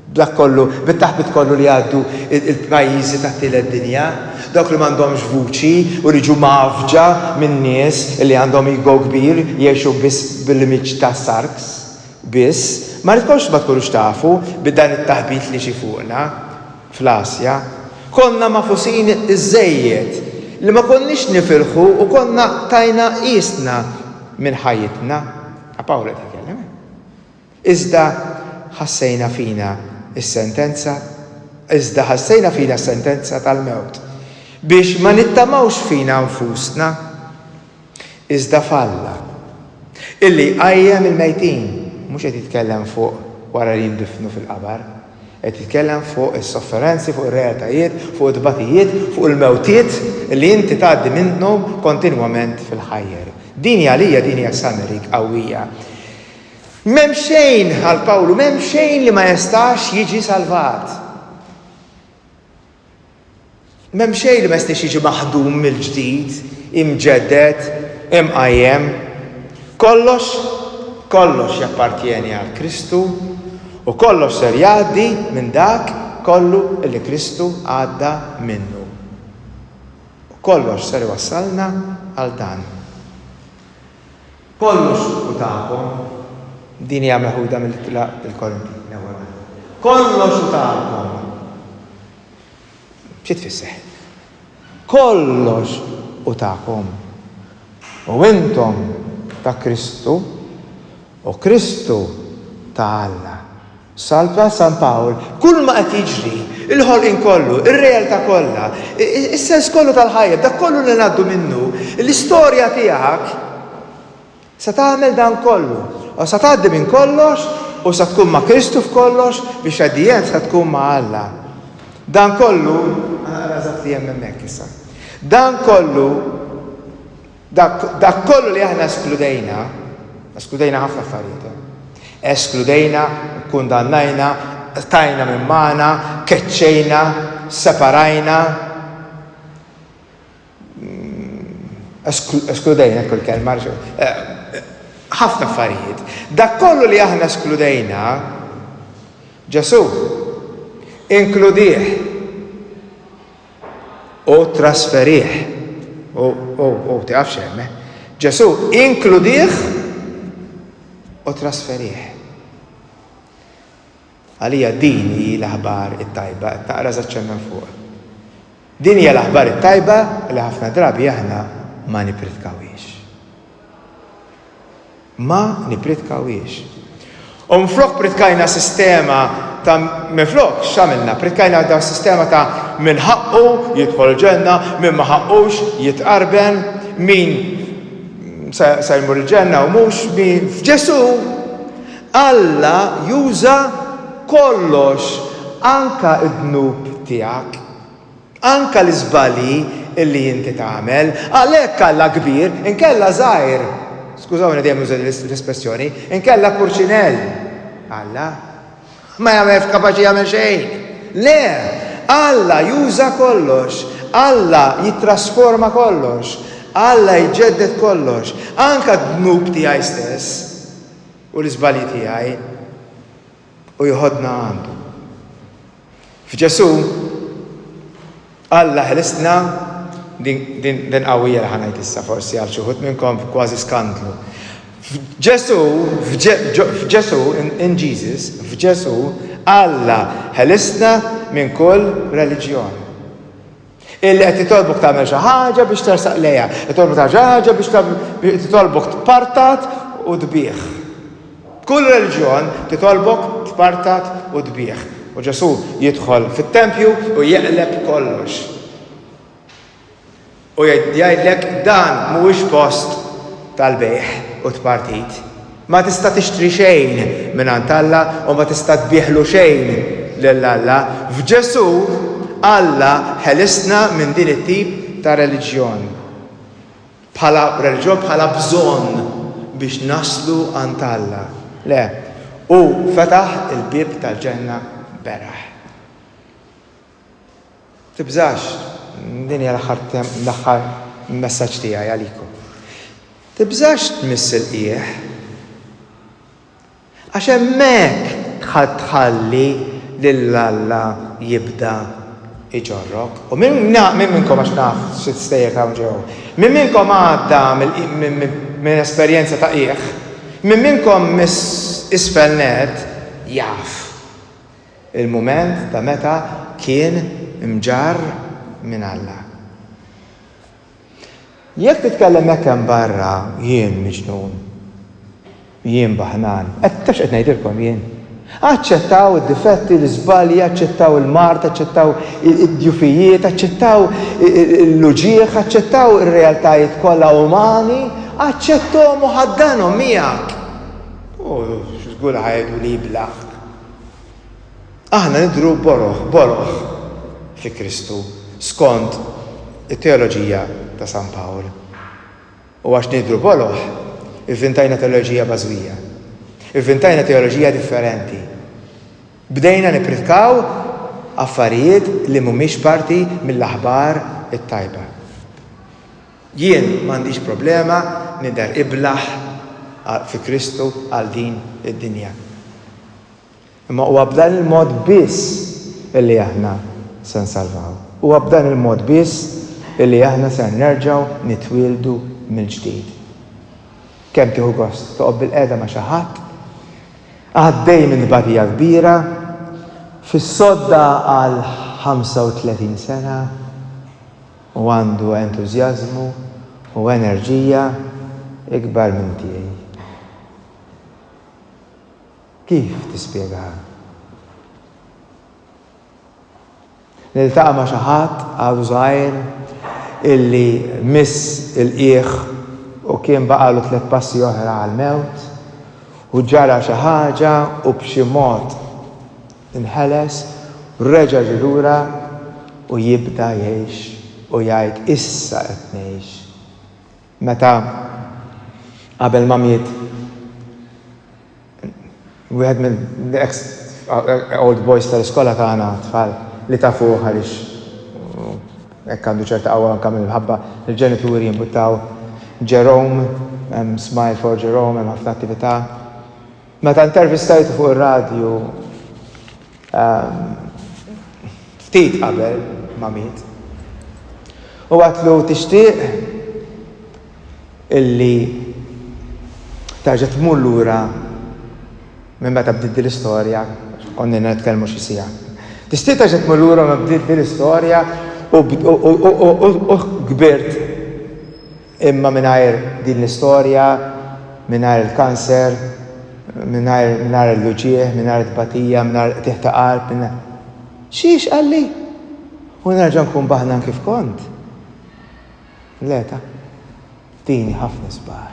B'dak kollu, bit-taħbit kollu li jgħaddu il-pajjiżi tat-tielet dinja, dawk li m'għandhomx vuċi u li jiġu mgħaffġa minn nies li għandhom ego kbir jgħixu biss bil-limiċ ta' sarks biss, m'ara tkomx ma tkunux tafu bi dan it-taħbit li ġie fuqna fl-Asja. Konna magħfusin iżżejjed li ma konniex nifilħu u konna tajna qiesna minn ħajjitna. Pawlu qed jitkellem. Iżda ħassejna fina s-sentenza, iżda ħassejna fina s-sentenza tal-mewt, biex ma nittamawx fina nfusna, iżda f'Alla, illi jqajjem il-mejtin, mhux qed jitkellem fuq wara li jindifnu fil-qabar, qed jitkellem fuq is-sofferenzi, fuq ir-realtajiet, fuq it-tbatijiet, fuq il-mewtiet illi inti tgħaddi minnhom kontinwament fil-ħajjer. Din hi għalija, din hija summary qawwija. M'hemm xejn, għal Pawlu, m'hemm xejn li ma jestax jiġi salvat. M'hemm xejn li ma jistax jiġi maħdum mill-ġdid, imġedded, imqajjem. Kollox, kollox jappartjeni għal Kristu u kollox ser jgħaddi minn dak kollu li Kristu għadda minnu. U kollox ser iwassalna għal dan. Kollu suq hu tagħkom. Din hija meħuda mill-Ittra lil Korinti, l-ewwel waħda. Kollox hu tagħkom. Xi tfisser? Kollox hu tagħkom. U intom ta' Kristu, u Kristu ta' Alla. Salva San Pawl, Kull ma qed jiġri, il-ħolqien kollu, ir-realtà kollha, is-sens kollu tal-ħajja, b'dak kollu li ngħaddu minnu, l-istorja tiegħek se tagħmel dan kollu. Se tgħaddi minn kollox u se tkun ma' Kristu f'kollox biex at the end se tkun ma' Alla. Dan kollu, ħa naqra eżatt li hemm hemmhekk issa. Dan kollu, Dak kollu li aħna eskludejna, eskludejna ħafna affarijiet hemm. Eskludejna, kkundannajna, qtajna minn magħna, keċċejna, separajna. Eskludejna kull kelma, ħafna affarijiet. Dak kollu li aħna eskludejna, Ġesu, inkludih. U ttrasferih. U, u, u, tieqaf xi hemm, eh? Ġesù, inkludih u ttrasferih. Għalija din hi l-aħbar it-tajba, qed naqra żaċċenna fuq. Din hija l-aħbar it-tajba li ħafna drabi aħna ma nippridkawhiex. Ma nippritkawhiex. U minflok pritkajna sistema ta' minflok x'għamilna? Pritkajna da' sistema ta' min ħaqqu jidħol ġenna, min ma ħaqqux jitqarben, min se jmur il-ġenna u mhux min f'Ġesù Alla juża kollox anke d-dnub tiegħek. Anke l-iżbalji li inti tagħmel. Għalhekk Alla kbir, inkella żgħir. Skużawni dejjem nuża din l-espressjoni, inkella purċinell. Alla ma jagħmel f'kapaċi jagħmel xejn. Le, Alla juża kollox, Alla jittrasforma kollox, Alla jġedded kollox, anke d-dnub tiegħi stess u l-iżbalji tiegħi. u jħoddna għandu. F'Ġesù, Alla ħlisna din qawwija li ħanajt issa forsi għal xi wħud minnkom kważi skandlu. F'Ġesù, f'Ġesù, in Jesus, f'Ġesù, Alla ħelisna minn kull reliġjon. Illi qed jitolbok tagħmel xi ħaġa biex tersaq lejha, jitolbok tagħmel xi ħaġa biex tagħmel titolbok tpartat u tbigħ. Kull reliġjon titolbok tpartat u tbigħ. U Ġesù jidħol fit-tempju u jeqleb kollox. U jgħidlek dan mhuwiex post tal-bejħ u tpartit. Ma tista' tixtri xejn mingħand Alla u ma tista' tbiegħlu xejn lil Alla. F'Ġesù, Alla ħelisna minn din it-tip ta' reliġjon. Bħala reliġjon, bħala bżonn biex naslu għand Alla. Le, Hu fetaħ il-bieb tal-ġenna beraħ. Tibżax, din hija l-aħħar l-aħħar messaġġ tiegħi għalikom. Tibżax tmiss il-qiegħ. Għax hemmhekk tħall tħalli lil Alla jibda iġorrok. U minn minn minnkom għax naf xi stejjer hawn ġew. Minn minnkom għadda minn esperjenza ta' qiegħ. Minn minnkom miss isfel net jaf. Il-mument ta' meta kien mġarr minn Alla. Jekk titkellem hekk hemm barra, jien miġnun. Jien baħnan. Qed, tafx qed ngħidilkom jien? Aċċettaw id-difetti, l-iżbalji, aċċettaw il-mard, aċċettaw id-djufijiet, aċċettaw l-uġigħ, aċċettaw ir-realtajiet kollha umani, aċċetthom u ħaddanhom miegħek. U żgur li ħa jgħiduli blaħk. Aħna nidhru boroħ boroħ fi Kristu, skont it-teoloġija ta' San Pawl. U għax nidhru boroħ, ivvintajna teoloġija bażwija. Ivvintajna teoloġija differenti. Bdejna nippritkaw affarijiet li mhumiex parti mill-aħbar it-tajba. Jien m'għandix problema nidher iblah fi Kristu għal din id-dinja. Imma huwa b'dan il-mod biss illi aħna se nsalvaw. Huwa b'dan il-mod biss illi aħna ser nerġgħu nitwieldu mill-ġdid. Kemm tieħu gost toqgħod bilqiegħda ma' xi ħadd, għaddej minn tbatija kbira, fis-sodda għal 35 sena, Hu għandu entużjażmu u enerġija ikbar minn tiegħi. Kif tispjegaha? Niltaqa' ma' xi ħadd għadu żgħir illi miss il-qiegħ u kien baqgħalu tliet passi oħra għall-mewt u ġara xi ħaġa u b'xi mod Inħeles u reġa' ġie lura u jibda jgħix u jgħid issa qed ngħix. Meta qabel ma miet wieħed mill-ex old boys tal-iskola tagħna, tfal li tafuh għaliex hekk għandu ċerta qawwa anke mill-imħabba, il-ġenituri jimbuttaw Jerome, hemm smile for Jerome, hemm ħafna attività. Meta intervistajtu fuq ir-radju ftit qabel ma miet, u għedtlu tixtieq illi terġa' tmur lura minn meta bdiet din l-istorja, għax konnilna nitkellmu xi siegħa. Tixtieq terġa' tmur lura meta bdiet din l-istorja u kbirt? Imma mingħajr din l-istorja, mingħajr il-kanser, mingħajr mingħajr l-uġigħ, mingħajr it-tbatija, mingħajr qtigħ ta' qalb, mingħajr. Xiex qalli? U nerġa' nkun baħnan kif kont? Le ta. Dini ħafna sbar.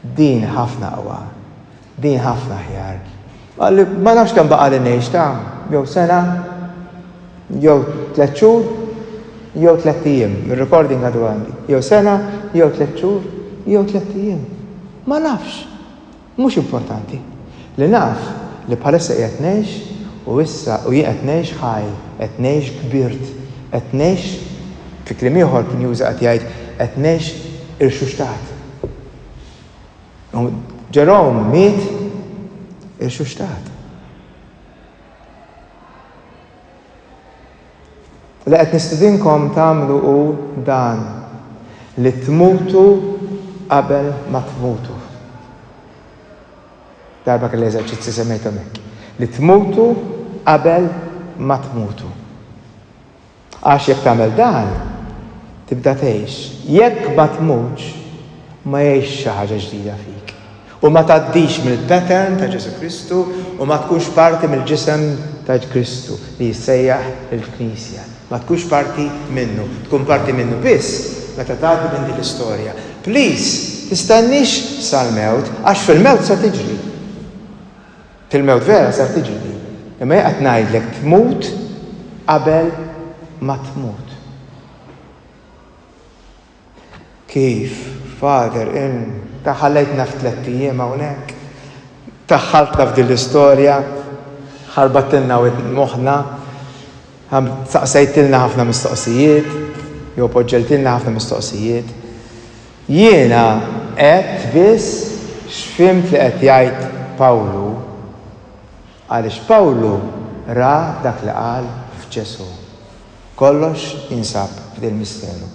Dini ħafna qwa. Din ħafna aħjar. Qalli, ma nafx kemm baqali ngħix, ta' jew sena, jew tliet xhur, jew tliet ijiem, ir-recording għadu għandi, jew sena, jew tliet xhur, jew tliet ijiem. Ma nafx. Mhux importanti. Li naf li bħalissa qiegħed ngħix u issa u jien qed ngħix ħaj, qed ngħix kbirt, qed ngħix, fi kliem ieħor kien juża qed jgħid qed ngħix irxuxtat. U Jerome miet irxuxtat. Li qed nistidinkom tagħmlu hu dan li tmutu qabel ma tmutu. Darba kelli eżerċizzi semmejthom hekk. Li tmutu qabel ma tmutu. Għax jekk tagħmel dan, tibda tgħix. Jekk ma tmutx, ma jgħixx xi ħaġa ġdida fik, u ma tgħaddix mill-pattern ta' Ġesù Kristu u ma tkunx parti mill-ġisem ta' Kristu li jissejjaħ il-Knisja. Ma tkunx parti minnu. Tkun parti minnu biss meta tgħaddi minn din l-istorja. Please, tistenniex sal-mewt, għax fil-mewt se tiġri. Fil-mewt vera ser tiġi din. Imma jien qed ngħidlek tmut qabel ma tmut. Kif, Father, in, ta' ħallejtna f'tlett ijiem hawnhekk. Daħħaltna f'din l-istorja, ħarbattilna moħħna. Ha, saqsejtilna ħafna mistoqsijiet, jew poġġejtilna ħafna mistoqsijiet. Jiena għedt biss x'fhimt li qed jgħid Pawlu, għaliex Pawlu ra dak li qal f'Ġesù. Kollox jinsab f'dil-misteru.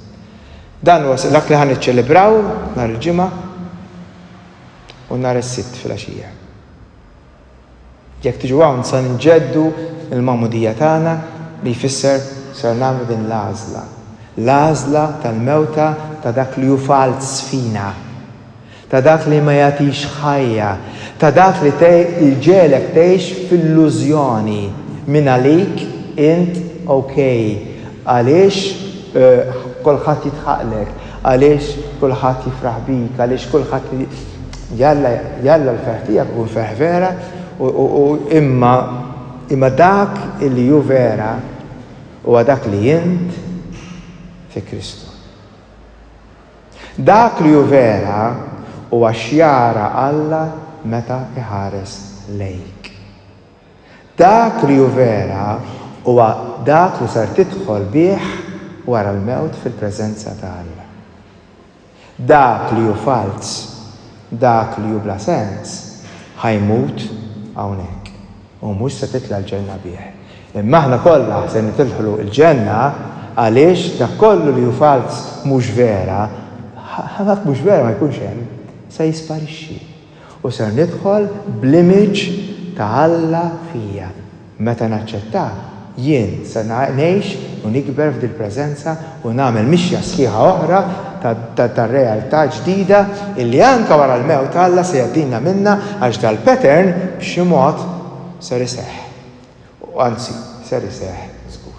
Dan huwa dak li ħa niċċelebraw nhar il-Ġimgħa u nhar is-Sibt filgħaxija. Jekk tiġu hawn se nġeddu l-magħmudija tagħna li jfisser ser nagħmlu din l-għażla, l-għażla tal-mewta ta' dak li hu falz fina, ta' dak li ma jagħtix ħajja, ta' dak li jġegħlek tgħix f'illużjoni, mingħalik int ok, għaliex kulħadd jidħaqlek, għaliex kulħadd jifraħ bik, għaliex kulħadd. Jalla, jalla l-ferħ tiegħek ikun ferħ vera u imma imma dak li hu vera huwa dak li int fi Kristu. Dak li hu vera huwa x'jara Alla meta iħares lejk. Dak li hu vera huwa dak li ser tidħol bih wara l-mewt fil-preżenza ta' Alla. Dak li hu falz, dak li hu bla sens, ħa jmut hawnhekk u mhux se titla' l-ġenna bih. Imma aħna kollha se nidħlu l-ġenna għaliex dak kollu li hu falz, mhux vera, ħa dak mhux vera ma jkunx hemm, se jisparixxi. U ser nidħol bl-image ta' Alla fija. Meta naċċettak, jien se ngħix u nikber f'dil-preżenza u nagħmel mixja sħiħa oħra ta' ta' realtà ġdida illi anke wara l-mewt Alla se jgħaddilna minnha għax dal-pattern b'xi mod ser iseħħ. U anzi, ser iseħħ żgur.